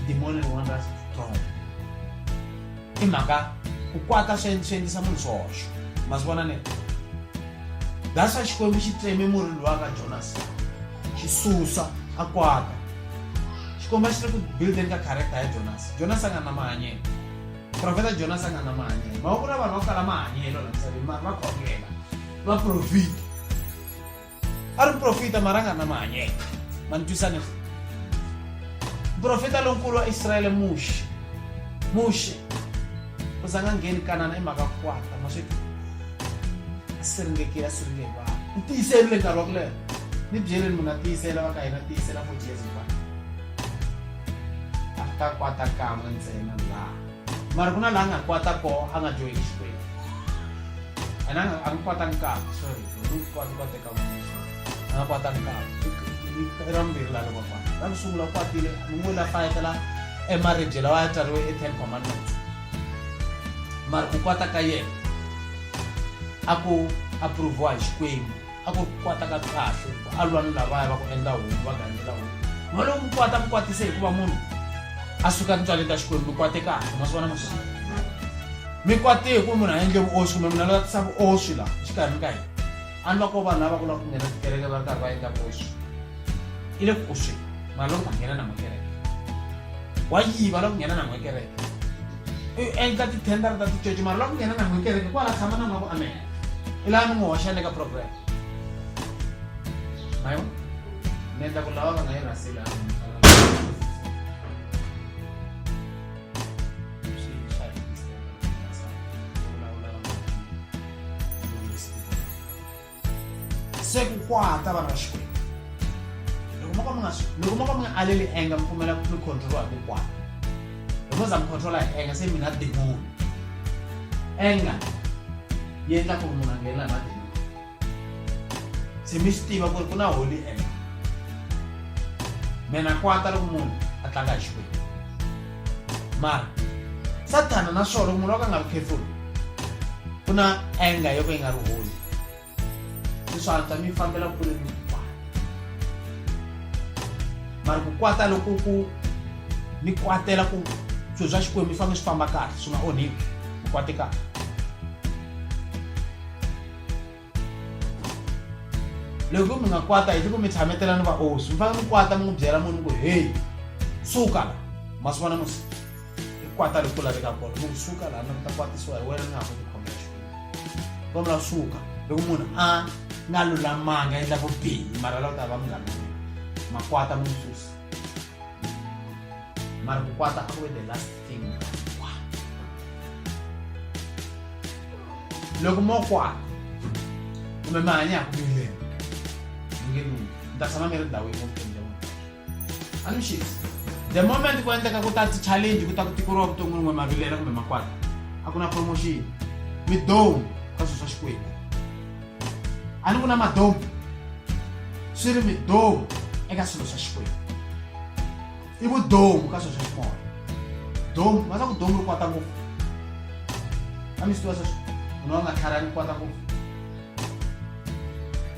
S1: dimoni rin'wana ra strong i mhaka ku kwata swi swi endlisa munhu swihoxo ma swi vona ne that's why xikwembu xi tseme murhi lowa ka jonas xi susa a kwata xikwembu a xi ri ku buildeni ka character ya jonas jonas a nga na mahanyelo profeta jonas a nga na mahanyelo ma va ku na vanhu va ku kala mahanyelo la misaveni mari va khongela va profita a ri muprofita mara a nga na mahanyelo ma ni twisane muprofita lonkulu wa israyele muxe muxe u za nga ngheni kanana i mhaka kwata ma sweka a siringekile a siringeke vanhu ni tiyiseli le nkarhi wa ku leha ni byeleni munhu a tiyisela va ka hina tiyisela for jesu va a ta kwata kan'we ntsena laha Mara ku na laha a nga kwata koho a nga dyohi exikwembu and a nga a nga kwata nkavi sorry ni kwati kwate ka n'wina sorry a nga kwata nkavi i ra vumbirhi laha loko a kwata ra ku sungula u kwatile ni n'wi la fayetela emaribye lawa ya tsariwe e-ten commandments mara ku kwata ka yena a ku approviwa hi xikwembu a ku ri ku kwata ka kahle ku a lwa ni lavaya va ku endla homu va gandzela homu va loko ku kwata ku kwatise hikuva munhu a suka tintswaleni ta xikwembu mi kwate kahle ma swi vona ma swi mi kwate hi ku munhu a endle vuoswi kumbe munhu a lava tisa vuoswi laha exikarhini ka hina a ni va ko vanhu lava ku lava ku nghena tikereke va ri karhi va endla vuoswi i le ku oswini mara loko va nghena na makereke wa yiva loko nghena na n'wekereke u endla tithendara ta ticoci mara loko nghena na n'wekereke kwala tshama na n'wa ku amela i laha ni n'wi hoxana eka program mayo ni endla ku lava va nga yi rhaseli se ku kwata vana va xikwembu loko mo ka mi nga aleli enga mi pfumela mi controliwa hi ku kwata because I'm controller anger se mina demon anger yi endla ku munhu a nghenela na demon se mi swi tiva ku ri ku na holy anger mina kwata loko munhu a tlanga hi xikwembu mara sathana naswona munhu wa ka nga ri careful ku na anger yo ka yi nga ri holy leswi antswa mi fambela kule ni ku kwata mara ku kwata loko ku mi kwatela ku swilo swa xikwembu mi fanele swi famba kahle swi nga onhiki mi kwate kahle loko mi nga kwata hi loko mi tshametela ni vaosi mi fanele mi kwata mi n'wi byela munhu ku heyi suka la masiku na musiku kwata loko laveka kona loko suka laha na ta kwatisiwa hi wena ni nga ha ku tikhomela xona vona la suka loko munhu a nga lulamanga endla vubihi mara la ku ta va munghana makwata mu susa mara ku kwata a ku ve the last thing loko mo kwata kumbe mahanya ya ku mileni mi nge lunghi ni ta tshama mi ri ndhawu yin'we vutomi alushis the moment ku endleka ku ta ti-challenge ku ta ku tikeriwa vuton'wini n'we mavilela kumbe makwata a ku na promotion midomu ka swilo swa xikwembu a ni ku na madomu swi ri midomu eka swilo swa xikwembu i vudomu ka swilo swa ximoya domu va ta ku domu ri kwata ngopfu a mi swi tiva sweswo munhu wa nga tlharani kwata ngopfu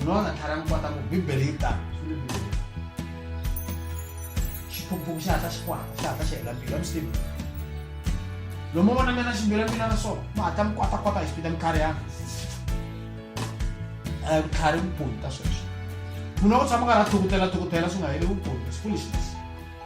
S1: unoona thara mukwata ku bibele yi tano xiphukuphuku xa hatla xi kwata xa hatla xi hela mbilu ya muslim lomu vona mina ximbilu ya mina na swona mi hatla mi kwatakwata hi xipita mikhariyana a vutlhari vuponi ka sweswo munhu wa ku tshama karhi a thukutela thukutela swi nga heli vuponi siku lexi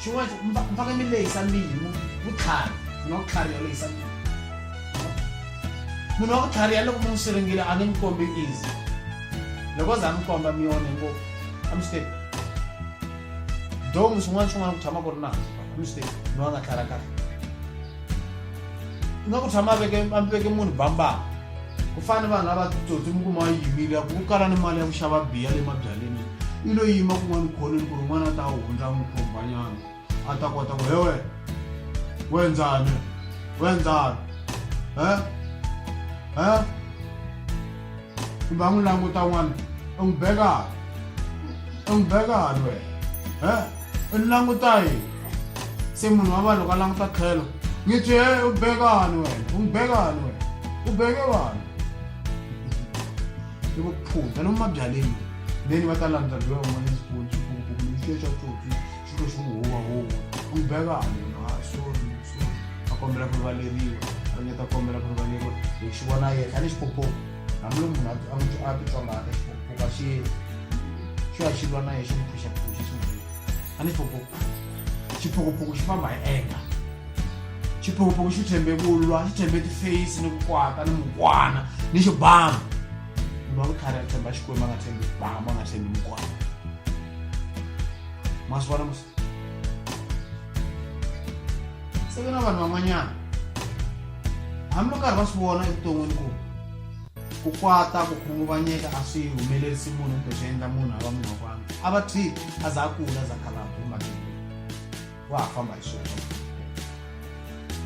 S1: Xin'wana xi ku, Mi fanele mi lehisa mbilu, vutlhari. Munhu wa ku tlhariha u lehisa mbilu. Munhu wa ku tlhariha loko mi n'wi siringile a nge mi kombi easy. Loko o za a mi komba mi onhe ngopfu. A mi swi tivi? Domu swin'wana swin'wana ku tshama ku ri nandzu kwala, a mi swi tivi? Munhu a nga tlhariha kahle. nga ku tshama veke a veke munhu bambaka ku fana ni vanhu lava titsotsi mi kuma yimile ya ku ku kala ni mali ya ku xava biya le mabyaleni i lo yima kun'wana khoneni ku ri n'wana a ta hundza n'wi khombanyana a ta kota ku hewe wenzani wenzani e e kumbe a n'wi languta n'wana u n'wi bekani u n'wi bekani wena he u ni languta yini se munhu wa vanhu loko a languta tlhelo ngi twi he u bekani wena u n'wi bekani wena u beke vanhu i vuphuza lomu mabyaleni then va ta landza loya un'wana xikulu xikulukuku lexi xa tsotsi xilo xi n'wi huwa huwa u n'wi bekani wena ha sorry a kombela ku rivaleriwa a ringeta ku kombela ku rivaleriwa hi xi vona yena a ni xipopopo hambi lo munhu a n'wi a titsongaka xipopopo a xi yeni xo ya xi lwa na ye xi n'wi phuxaphuxa xi n'wi a ni xipopopo xiphokopoko xi famba hi enga xiphokopoko xi tshembe ku lwa xi tshembe tiface ni ku kwata ni mukwana ni xibama munhu wa vutlhari a tshemba xikwembu a nga tshembi bama a nga tshembi mukwana masiwana musi se ku na vanhu van'wanyana hambiloko karhi va swi vona evuton'wini ku ku kwata ku khunguvanyeka a swi humelerisi munhu kumbe swi endla munhu a va munhu wa vanhu a va three a za a kula za khala humbakeli wa ha famba hi swona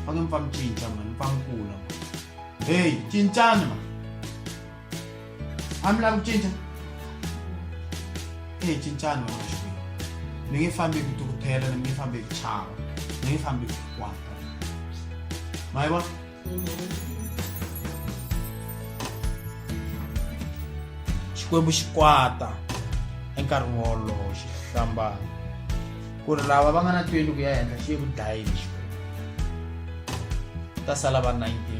S1: va nge mi fa mi cinca mani mi fa mi kula heyi cincani mani a mi lavi ku cinca e cincani wena xikwini mi nge fambi hi ku tukuthela mi nge fambi hi ku chava mi nge fambi hi ku kwata ma yi vona xikwembu xi kwata enkarhini wolowo xi hlambana ku ri lava va nga na tweli ku ya henhla xi ye ku dlayeni xikwembu ta sala va 19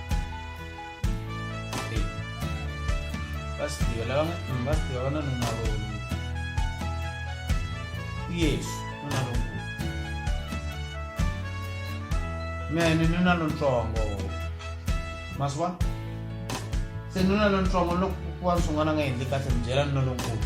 S1: basidyiwa lava nga mm, basidyiwa va na nuna lowu yesu nuna lonkulu mene nuna lontsongo masivona se nuna lontsongo loko kuva ni swin'wana nga endli kahle mi byela nuna lonkulu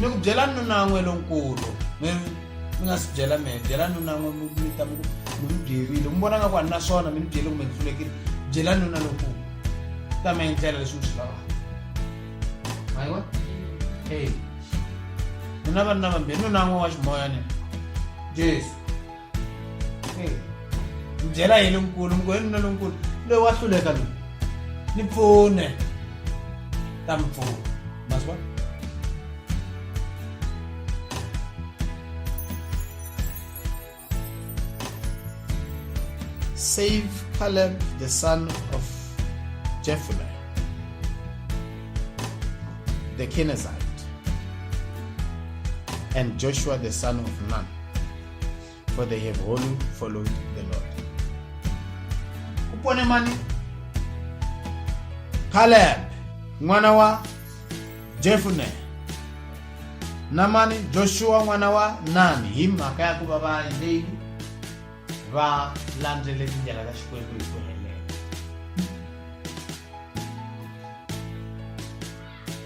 S1: ni ku byela nunan'we lonkulu mi mi nga si byela mehe byela nunan'we mi mi ta mi ku mi mi byerile mi vona nga ku a ni na swona mi ni byele kumbe ni pfulekile byela nuna lonkulu ta mi endlela leswi mi swi lavaka mayiwa e nuna vanuna vambirhi nunan'we wa ximoya ni jesu Hey, mbyela hi lonkulu mugwenu na lonkulu loyi wa hluleka loyi ni pfune ta mi pfuna ma swi vona save Caleb, the son of Jephunneh, the Kenizzite, and Joshua, the son of Nun. for they have wholly followed the Lord. Upone mani Caleb mwana wa Jefune na mani Joshua mwana wa Nani hi mhaka ya ku va va leyi va landzele tindlela ta Xikwembu hi ku helela.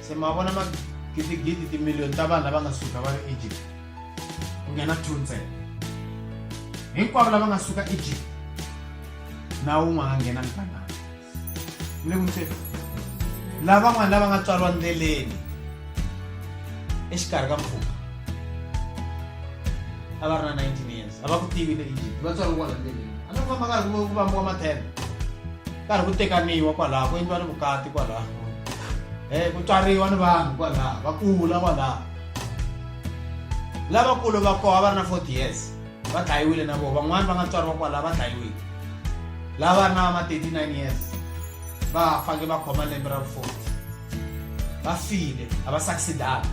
S1: se ma vona magidigidi timiliyoni ta vanhu lava nga suka va ri egypt ku nghena two ntsena hinkwavo lava nga suka egypt na wun'we nga nghena mikanana mi le kumiseni lavan'wana lava nga tswariwa ndleleni exikarhi ka mpfhuka a va ri na 19 years a va ku tivi le egypt va tswariwa kwala ndleleni a ni ku famba karhi ku vambiwa mathele karhi ku tekaniwa kwalaho ku endliwa ni vukati kwalaho um eh, ku tswariwa ni vanhu kwalaho va kula kwalaho lavakulu va koho a va ri na forty years va dlayiwile na voho van'wani va nga tswariwa kwalaho va dlayiwile lava ri na va ma thirty nine years va fange va khoma lembe ra forty va file a va succeedanga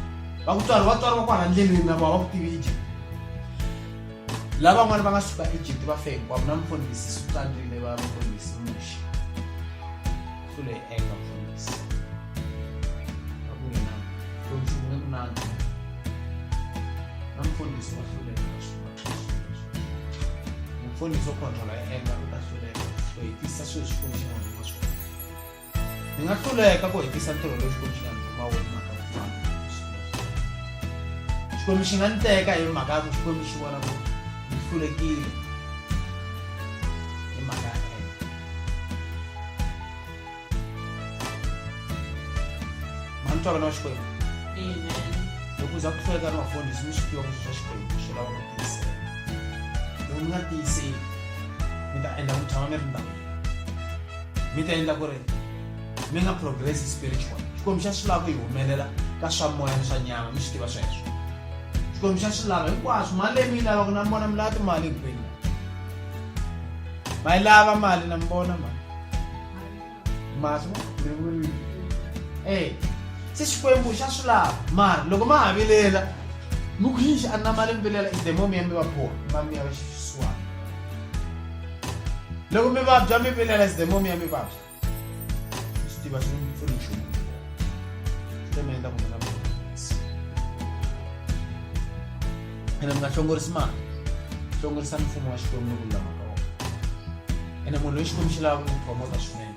S1: va ku tswariwa tswariwa kwala ndleleni na voho va ku tivije lava n'wana va nga suka ejipti va fe hinkwavo na mfundhisi sutandrile va mfundhisi muxi so leyi enga mfundhisi a ku yena lonchumu ni munandzi na mfundhisi wa hluleka mfundhisi wo khontrola enga u ta hluleka so hi tisa swilo swifunxinaa Ni nga hluleka ku hetisa ntirho lowu Xikwembu xi nga ni tuma wona hi mhaka vun'wana bya swilo swa mina. Xikwembu xi nga ni teka hi mhaka ya ku Xikwembu xi vona ku ni hlulekile hi mhaka ya ena. Ma ni twa vana va Xikwembu? Amen. loko uza ku hluleka ni vafundhisi mi swi tiva ku swilo swa xikwembu swi lava ku tiyisela loko mi nga tiyiseli mi ta endla ku tshama mi ri ndhawu mi ta endla ku ri mi nga progress spiritual xikwembu xa swi lava ku yi humelela ka swa moya ni swa nyama mi swi tiva sweswo xikwembu xa swi lava hinkwaswo mali leyi mi yi lavaka na mona mi lava timali hinkwenu ma yi lava mali na mi vona ma maswa e se xikwembu xa swi lava mara loko ma ha vilela mi ku yixi a na mali mi vilela i demo mi ya mi va boha ma mi ya va xifisiwana loko mi vabya mi vilela sidemom ya mi vabya swi tiva swi mi pfuni nchumu swi mi endla kumela ene mi nga hlongorisi mali hlongorisa mfumo wa xikwembu ni ku lulama ka wona ene munhu loyi xikwembu xi lava ku n'wi promota swinene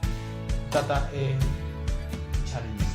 S1: tata e-challenges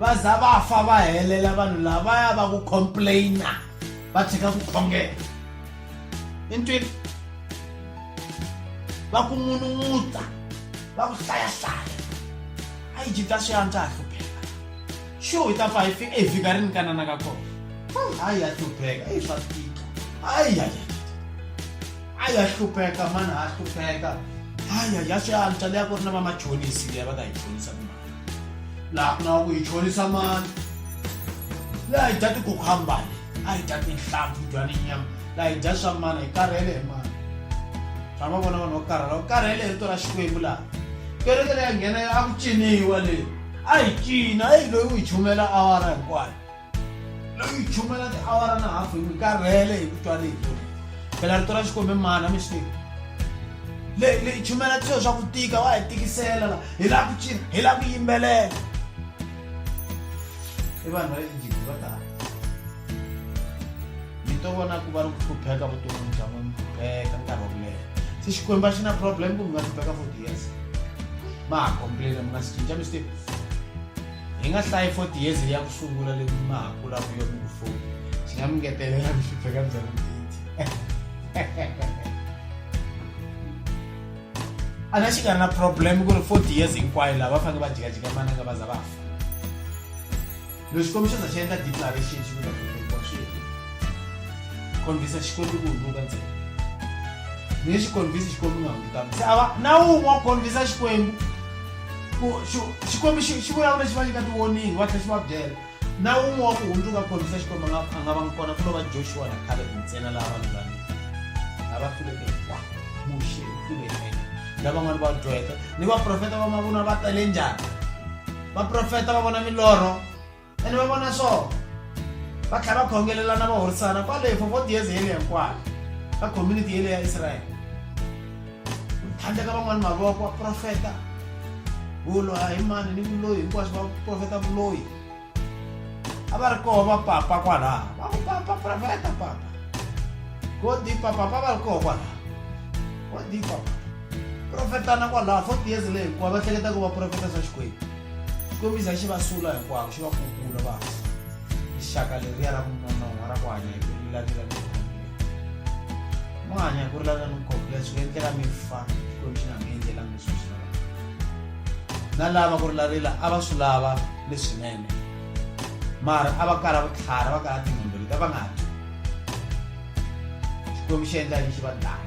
S1: va za va fa va helela vanhu lavaya va ku complaina va tshika ku khongela i ntwini va ku n'unun'uta va ku hlayahlaya a yi jita swi antswa ha hlupheka xu hi ta fa hi fika hi fika ri ni kanana ka kona a ya hlupheka i swa tika a ya ya a ya hlupheka mani ha hlupheka a ya ya swi antswa leya ku ri na vamachonisi leya va ka hi chonisa kuma laha ku nga ku hi chonisa mali laha hi dya tikukhambani a hi dya tinhlampfi dya ni nyama laha hi dya swa mani hi karhele hi mani tshama vona vanhu va karhala va karhele hi rito ra xikwembu laha kereke leyi ya nghena a ku ciniwa leyi a hi cina a hi loyi u hi chumela awara hinkwayo loko yi chumela tiawara na hafu hi karhele hi ku twa rito phela rito ra xikombe mana mi swi tiva leyi chumela swilo swa ku tika wa hi tikisela la hi lava ku cina hi lava ku yimbelela i vanhu va le egypt va tala mi to vona ku va ri ku hlupheka vuton'wini bya n'wini hlupheka nkarhi wa ku leha se xikwembu a xi na problem ku mi nga hlupheka forty years ma ha complaina mi nga si cinca mi swi tiva Hi nga hlayi for tiyeze leyi ya ku sungula leyi mi nga ha kula ku yona ku foni xi nga mi ngetelela ku hlupha ka byona mbiti a na xi nga ri na problem ku ri forty years hinkwayo lava va fanele va jikajika mana nga va za va fa loko xikombiso za xi endla declaration xi kuta kuwa swi konvisa xikombi ku hundzuka ntsena ni xikonvisi xikombi nga hundzukangi se a va na wun'we wa konvisa xikwembu ku xi- xikwembu xi xi vulavula xi va nyika tiwoningi va tlhela xi va byela na wun'we wa ku hundzuka ku kombisa xikwembu a nga a nga va ngi kona ku lo va joshua na caleb ntsena laha vanhu lani lava hluleke hinkwavo muxe u hlule yena lavan'wana va dyoheke ni vaprofeta va mavunwa va tale njhani vaprofeta va vona milorho ene va vona swona va tlhela va khongelelana va horisana kwale for forty years yeleyo hinkwayo ka community yeleyo ya israyele handle ka van'wani mavoko va profeta vulo a hi mani ni vuloyi hinkwaswo va profeta vuloyi a va ri koho va papa kwalaha va ku papa profeta papa go dipa papa va ri koho kwalaha go dipa profetana kwalaha forty years leyi hikuva va hleketa ku va profeta swa xikwembu Xikwembiza xi va sula hinkwavo xi va kukula va xaka leriya ra munonon'wa ra ku hanya hi ku rilavila ni mo hanya hi ku rilavila ni khombiya swi nga endleka mi fa xikwembu xi nga mi endlelanga leswi swi lavaka na lava ku rilavila a va swi lava leswinene mara a va kala vutlhari a va kala tinhombelo ta va nga dyi xikwembu xi endla yini xi va dlaya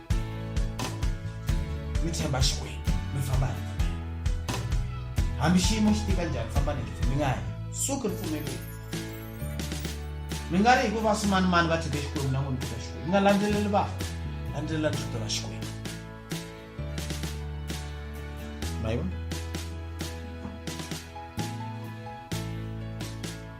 S1: mi tshemba xikwembu mi famba hi hambi xiyimo xi tika njhani famba ni mi nga hi suki ripfumeleli mi nga ri hikuva swimanimani va tshike xikwembu na n'wini kuta xikwembu mi nga landzeleli va landzelela rito ra xikwembu ma yi vona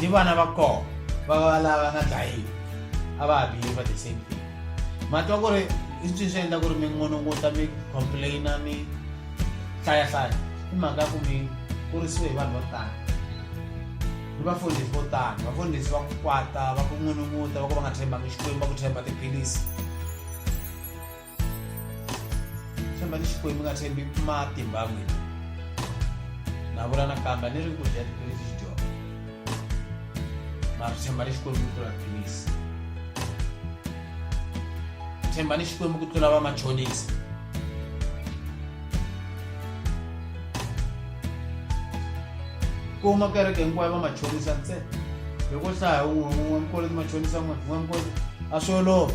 S1: ni vana va kona va va lava nga dlayiwi a va ha behave the same thing matwa ku ri i swi swi endla ku ri mi ngononguta mi complaina mi hlayahlaya i mhaka ku mi kurisiwe hi vanhu vo tala ni vafundhisi vo tala vafundhisi va ku kwata va ku ngununguta va ku va nga tshembangi xikwembu va ku tshemba tiphilisi chamba ni xikwembu nga tshembi matimba n'wina na vula nakambe ni ri ku dya tiphilisi xi dyona mara tshemba ni xikwembu ku tlula tiphilisi tshemba ni xikwembu ku tlula vamachonisi kuma kereke hinkwayo vamachonisa ntsena loko hlaya un'we un'we mkoloti machonisa n'we un'we mkoloti a swi olova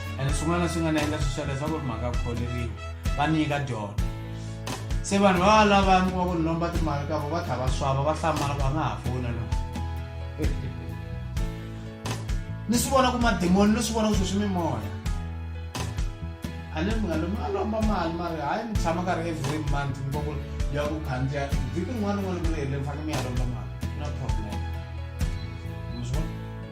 S1: and swin'wana swi nga na endla swiswa leswaku ri mhaka kholeriwa va nyika dyona se vanhu va va lava mi kuma ku ni lomba timali ka vo va tlha va swava va hlamala ku a nga ha fona lo ni swi vona ku mademoni ni swi vona ku sweswi mimoya a ni mi nga lomi a lomba mali mari hayi mi tshama ka ri every month mi va ku ya ku khandziya vhiki rin'wana rin'wana mi ri herile mi fanele mi ya lomba mali no problem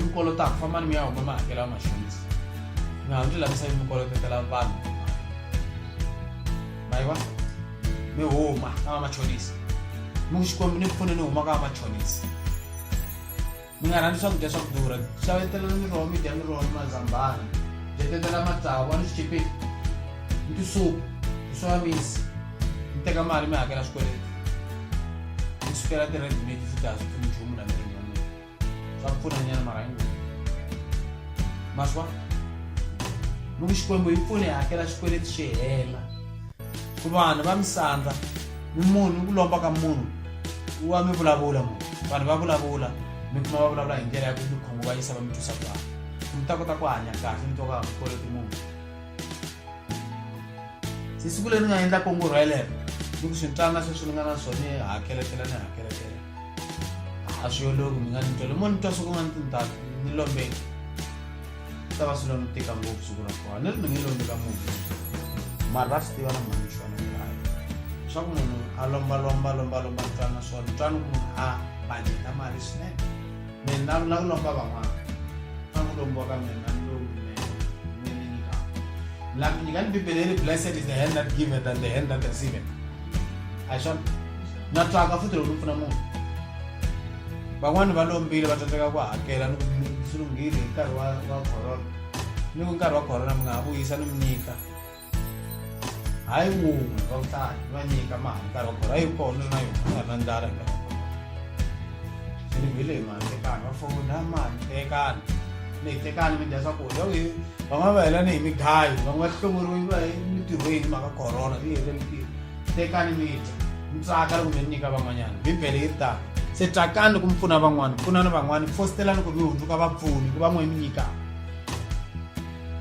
S1: mi kolotaka fambani mi ya huma mi hakela mashonisa mi ha ndzi lavisa yi mi kolotetela vanhu mayiva mi huma ka vamachonisa mi ku xikwembu ni pfune ni huma ka vamachonisa mi nga rhandzi swakudya swa ku durha xavetela ni roho mi dya ni roho ni mazambana jetetela matsavu a ni swichipeti ni tisupu hi swamisi mi teka mali mi hakela swikweleti mi sukela ti-red mate futhi a swi pfuni nchumu na mina Sabe pfuna nyana mara hi n'wini ma swi vona loko xikwembu hi pfune hi hakela xikweleti xi hela ku vanhu va misandza ni munhu ku lomba ka munhu wa mi vulavula munhu vanhu va vulavula mi kuma va vulavula hi ndlela ya ku mi khunguvanyisa va mi twisa ku vava mi ta kota ku hanya kahle mi twa ku a mi koloti munhu se siku leyi ni nga endla kongoro yelero ni ku swintana sweswi ni nga na swona ni hakelekela ni hakelekela a swi yoloki mi nga ni twele mo ni twa swi ku nga ni tindhaku ni lombeki swi ta va swi lo ni tika ngopfu siku ra kona ni ri ni nge lombi ka munhu mara va swi tiva na mhani xona ni hayi swa ku munhu a lombalomba lombalomba ni twana swona ni twana ku munhu a baneta mali swinene mina ku la ku lomba van'wana a ku lombiwa ka mina ni lowu mina ni ni nyikaka la mi nyika ni bibele yi ri blessed is the hand that giveth than the hand that receiveth a hi swona na twaka futhi loko ni pfuna munhu van'wani va lombile va tsandzeka ku hakela ni swi lunghile hi nkarhi wa wa corona ni ku nkarhi wa corona mi nga ha vuyisa ni mi nyika hayi wun'we va ku tani va nyika mali nkarhi wa khora yi kona na yona nga na ndlala hi nkarhi se ni vile hi mali tekani va fona mali tekani ni hi tekani mi dya swakudya oke van'wana va hela ni hi migayi van'wana va hlongoriwe va emitirhweni mhaka corona yi hele mitirho tekani mi dya mi tsaka loko mi nyika van'wanyana bibele yi ri tani se tsakani loko mi pfuna van'wana pfunani van'wana fostellani ku mi hundzuka vapfuni ku van'wana mi nyikaka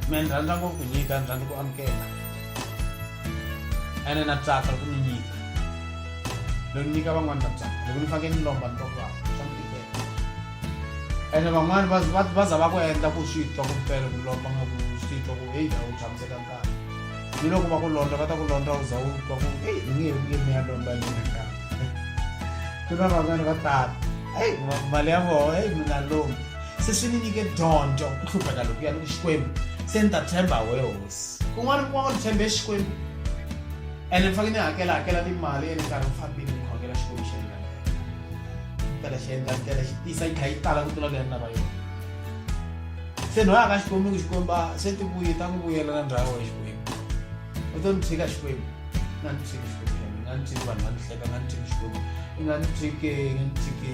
S1: mina ni rhandza ngopfu ku nyika ni rhandza ku amukela ene na tsaka loko ni nyika loko ni nyika van'wani na tsaka loko ni fanekele ni lomba ni twa ku vava swa ni tikela ene van'wani va za va ku endla ku swi twa ku mpela ku lomba nga ku swi twa ku heyi a wu tshamiseka nkarhi ni loko va ku londla va ta ku londla u za u twa ku heyi ni nge nge mi ya lomba hi mina nkarhi ku na van'wani va tala heyi mali ya voho heyi mina lomba se swi ni nyike dyondzo ku hlupheka loko ya ni ku xikwembu se ni ta tshemba we hosi kun'wana kuma ku ni tshembe xikwembu ene ni faneke ni hakela hakela timali ene nkarhi wu fambile ni khongela xikwembu xi endla tela xi endla tela xi tisa yi kha yi tala ku tlula leyi ni lava yona se ni hoyaka xikwembu ku xikwemba se ti vuye ta ku vuyela na ndhawu ya xikwembu u to ni tshika xikwembu nga ni tshiki xikwembu nga ni tshiki vanhu va ni hleka nga ni tshiki xikwembu nga ni tshike nga ni tshike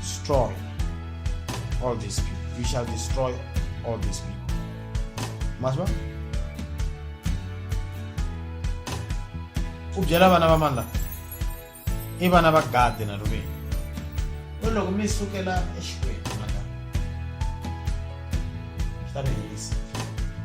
S1: Destroy all these people. We shall destroy all these people. Maswa? u byela vana va mani lava i vana va gadi na riveni u loko mi sukela exikwembu maka swi ta mi herisa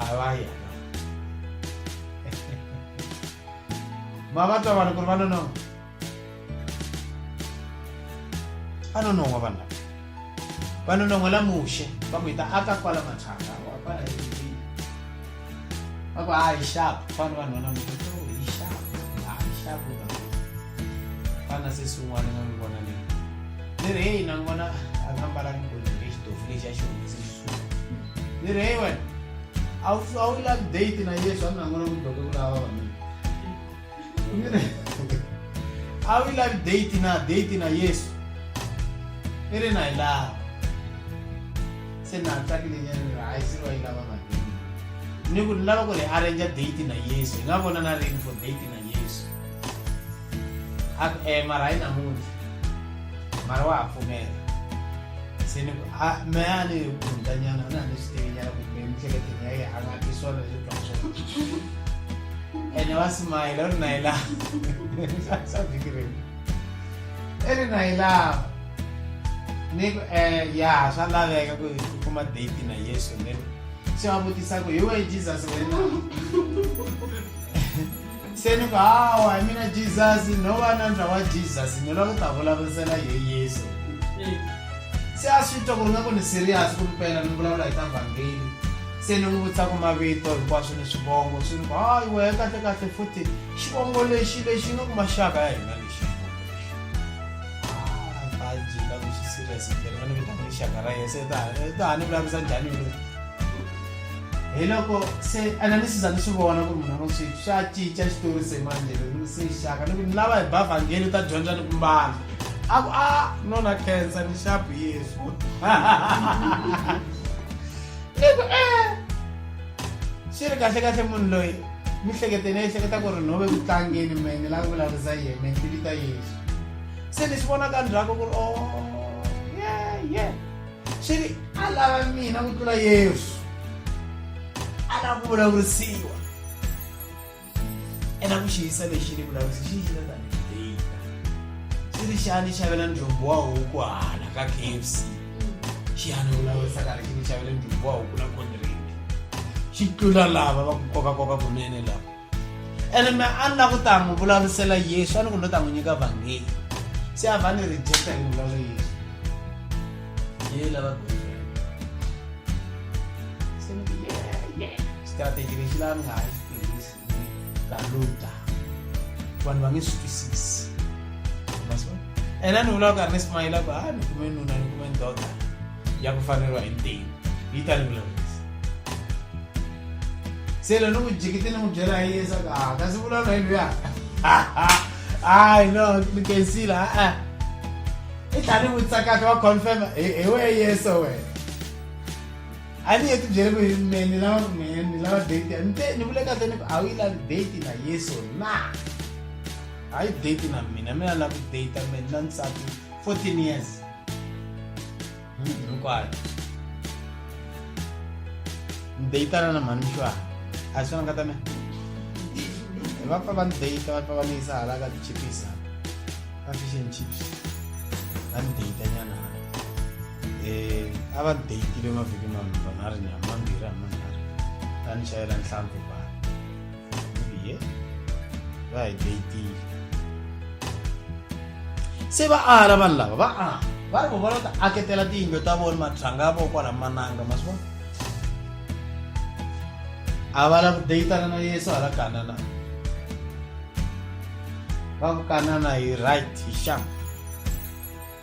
S1: a va ya ma va twa vanhu ku ri va nonoha va nonoha vanhu lava va nonoha la muxe va ku hi ta aka kwala mathanga wa kwala eivini va ku hayi xapu fana vanhu va namuxe to hi xapu hayi xapu va fana se swin'wana nga n'wi vona leyi ni ri heyi na n'wi vona a nga mbalanga golini exitofu lexi a xi humese ni ri heyi wena a wu a wu lavi date na yesu a mi nangona ku doke ku lava vavanuna a wu lavi date na date na yesu i ri na yi lava se na tsakilenyana ni ri hayi se va yi lava vanuna ni ku ni lava ku ri arrange date na yesu hi nga vona na rini for date na yesu a ku e mara hayi namuntlha mara wa ha pfumela se ni ku a mehe a ni gundanyana a na ni swi tivinyana kumbe emihleketeleni ya yena a nga ti swona leswi twa swona ene wa simayela u ri na yi lava sa vhiki rini i ri na yi lava ni ku um ya swa laveka ku u kuma date na yesu ni se wa vutisa ku hi wehe jesus wena se ni ku hawa hi mina jesus no va na ndra wa jesus ni lava ku ta vulavurisela hi yesu se a swi twa ku ri nga ku ni serious ku mpela ni vulavula hi ta vhangeli se ni n'wi vutisa ku mavito hinkwaswo ni swivongo swi ni ku hayi wehe kahle kahle futhi xivongo lexi lexi nga ku maxaka ya hina lexi xivongo lexi a ku xi serious mpela va ni vitana lexaka ra yena se ta ni vulavurisa njhani yoloyo hi loko se ene ni siza ni swi vona ku ri munhu wa sweswi xa cinca xitori se manje ni se xaka ni ku ni lava hi ba vhangeli u ta dyondza ni ku mbala a ku a nona khensa ni xapu yesu ni ku e xi ri kahle kahle munhu loyi mi hleketeni ehleketa ku ri nhove ku tlangeni me ni lava vulavurisa yena me ni vita yesu se ni swi vona ka ndzhaku ku ri o oh, ye ye swi ri a lava mina ku tlula yesu a lava ku vulavurisiwa ena ku xiyisa lexi ni vulavurisi xi yina tanihi data swi ri xani xavela njombo wa huku hala ka kfc xi yana vulavurisa karhi xi ni xavela njombo wa huku na kondireki xi tlula lava va ku kokakoka kunene lava ene me a ni la ku ta n'wi vulavurisela yesu a ni ku no ta n'wi nyika vhangeli se a va ni rejecta hi vulavula yesu ye lava strategy lexi laha ni nga ha xi tirhisi ka luta vanhu va nge swi twisisi ene a ni vulaka karhi ni simayila ku ha ni kume nuna ni kume ndoda ya ku faneriwa hi ntimu yi ta ni vulavula selo ni n'wi jikiti ni n'wi byela hi yesa ka ah, kasi vulavula hi luya hayi no ni kensila a i tlha ni vutsakaka wa confirma hi wena yeso wena a ni ye ti byele ku hi me ni lava ku me ni lava date ni te ni vule kahle ni ku a wu yi lavi date na yeso na hayi date na mina mina lava ku date mina na nsati fourteen years hinkwayo ni deyitana na mhani muxuwana a swi nga ta mina va pfa va ni deyita va pfa va ni yisa hala ka tichipisa ka fish and chips va ni deyita nyana a va ni deyitile mavhiki manharhu mambirhi a manharhu ta ni xayela nhlampfi Iye. va hi dayitile se va ala vanhu lava va a va ri vona ta aketela tiyindlo ta vona matlhanga ya vona kwala mananga ma swi vona a va lava ku dayitana na yesu hala kanana va ku kanana hi right hi xama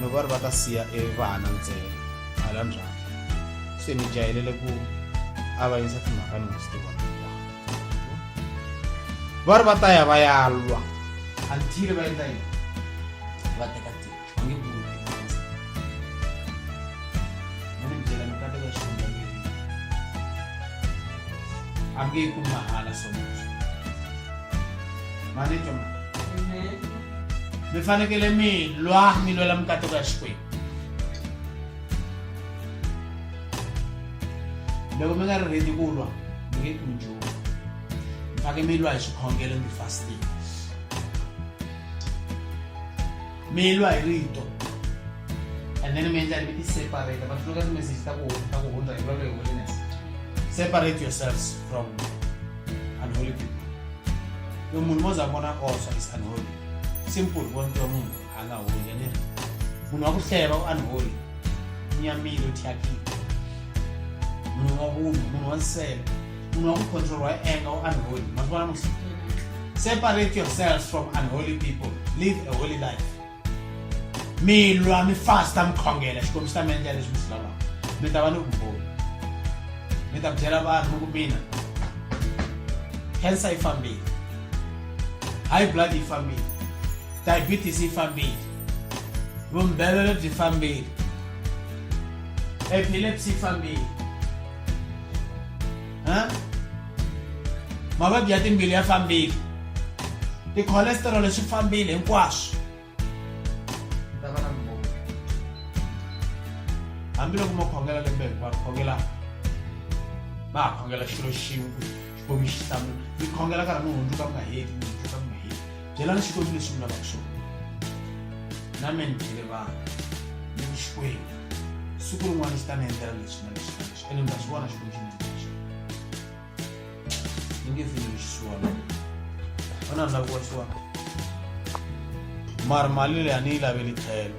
S1: no va ri va ta siya evana ntsena hala ndzhaku se ni jayelele ku avanyisa timhaka ni nga swi tiva va ri va ta ya va ya lwa until va endla yini va teka tiko va nge ku ni mi byela mi kateka xivundza leri a mi nge yi kumi mahala so much mani twa mi fanekele mi lwa mi lwela mikateko ya xikwembu loko mi nga ri redi ku lwa mi nge kumi nchumu mi faneke mi lwa hi swikhongelo mi fasting mi lwa hi rito and then mi endla ri i separate va tluka timessage ta ku ta ku hundza hi lwalo hi holiness separate yourselves from unholy people lo munhu mo za vona also is unholy simple vonto wa munhu a nga holi ene munhu wa ku hleva u unholy nyamile u thyakile munhu wa vunhu munhu wa nsele munhu wa ku controlwa hi enga u unholy masivona musi separate yourselves from unholy people live a holy life mi lwa mi fasta mi khongela xikombiso ta mi endlela leswi mi swi lavaka mi ta va ni vumboni mi ta byela vanhu ku mina cancer yi fambile high blood yi fambile diabetes yi fambile vumbelelo byi fambile epilepsy yi fambile Huh? mavabyi ya timbilu ya fambile ti-cholesterol swi fambile hinkwaswo hambiloko ma khongela lembe hinkwaro khongela ma ha khongela xilo xin'we xikwembu xi hlamula mi khongela nkarhi mi hundzuka mi nga heti mi hundzuka mi nga heti byelani xikwembu leswi mi lavaka swona na mina byele vanhu ni xikwembu siku rin'wana xi ta ni endlela lexi na lexi na lexi ene mi ta xi vona xikwembu xi ndlela xona ni nge fini lexi xiwona va na ndhavuko wa xiwona mara mali leyi a ni yi laveli tlhelo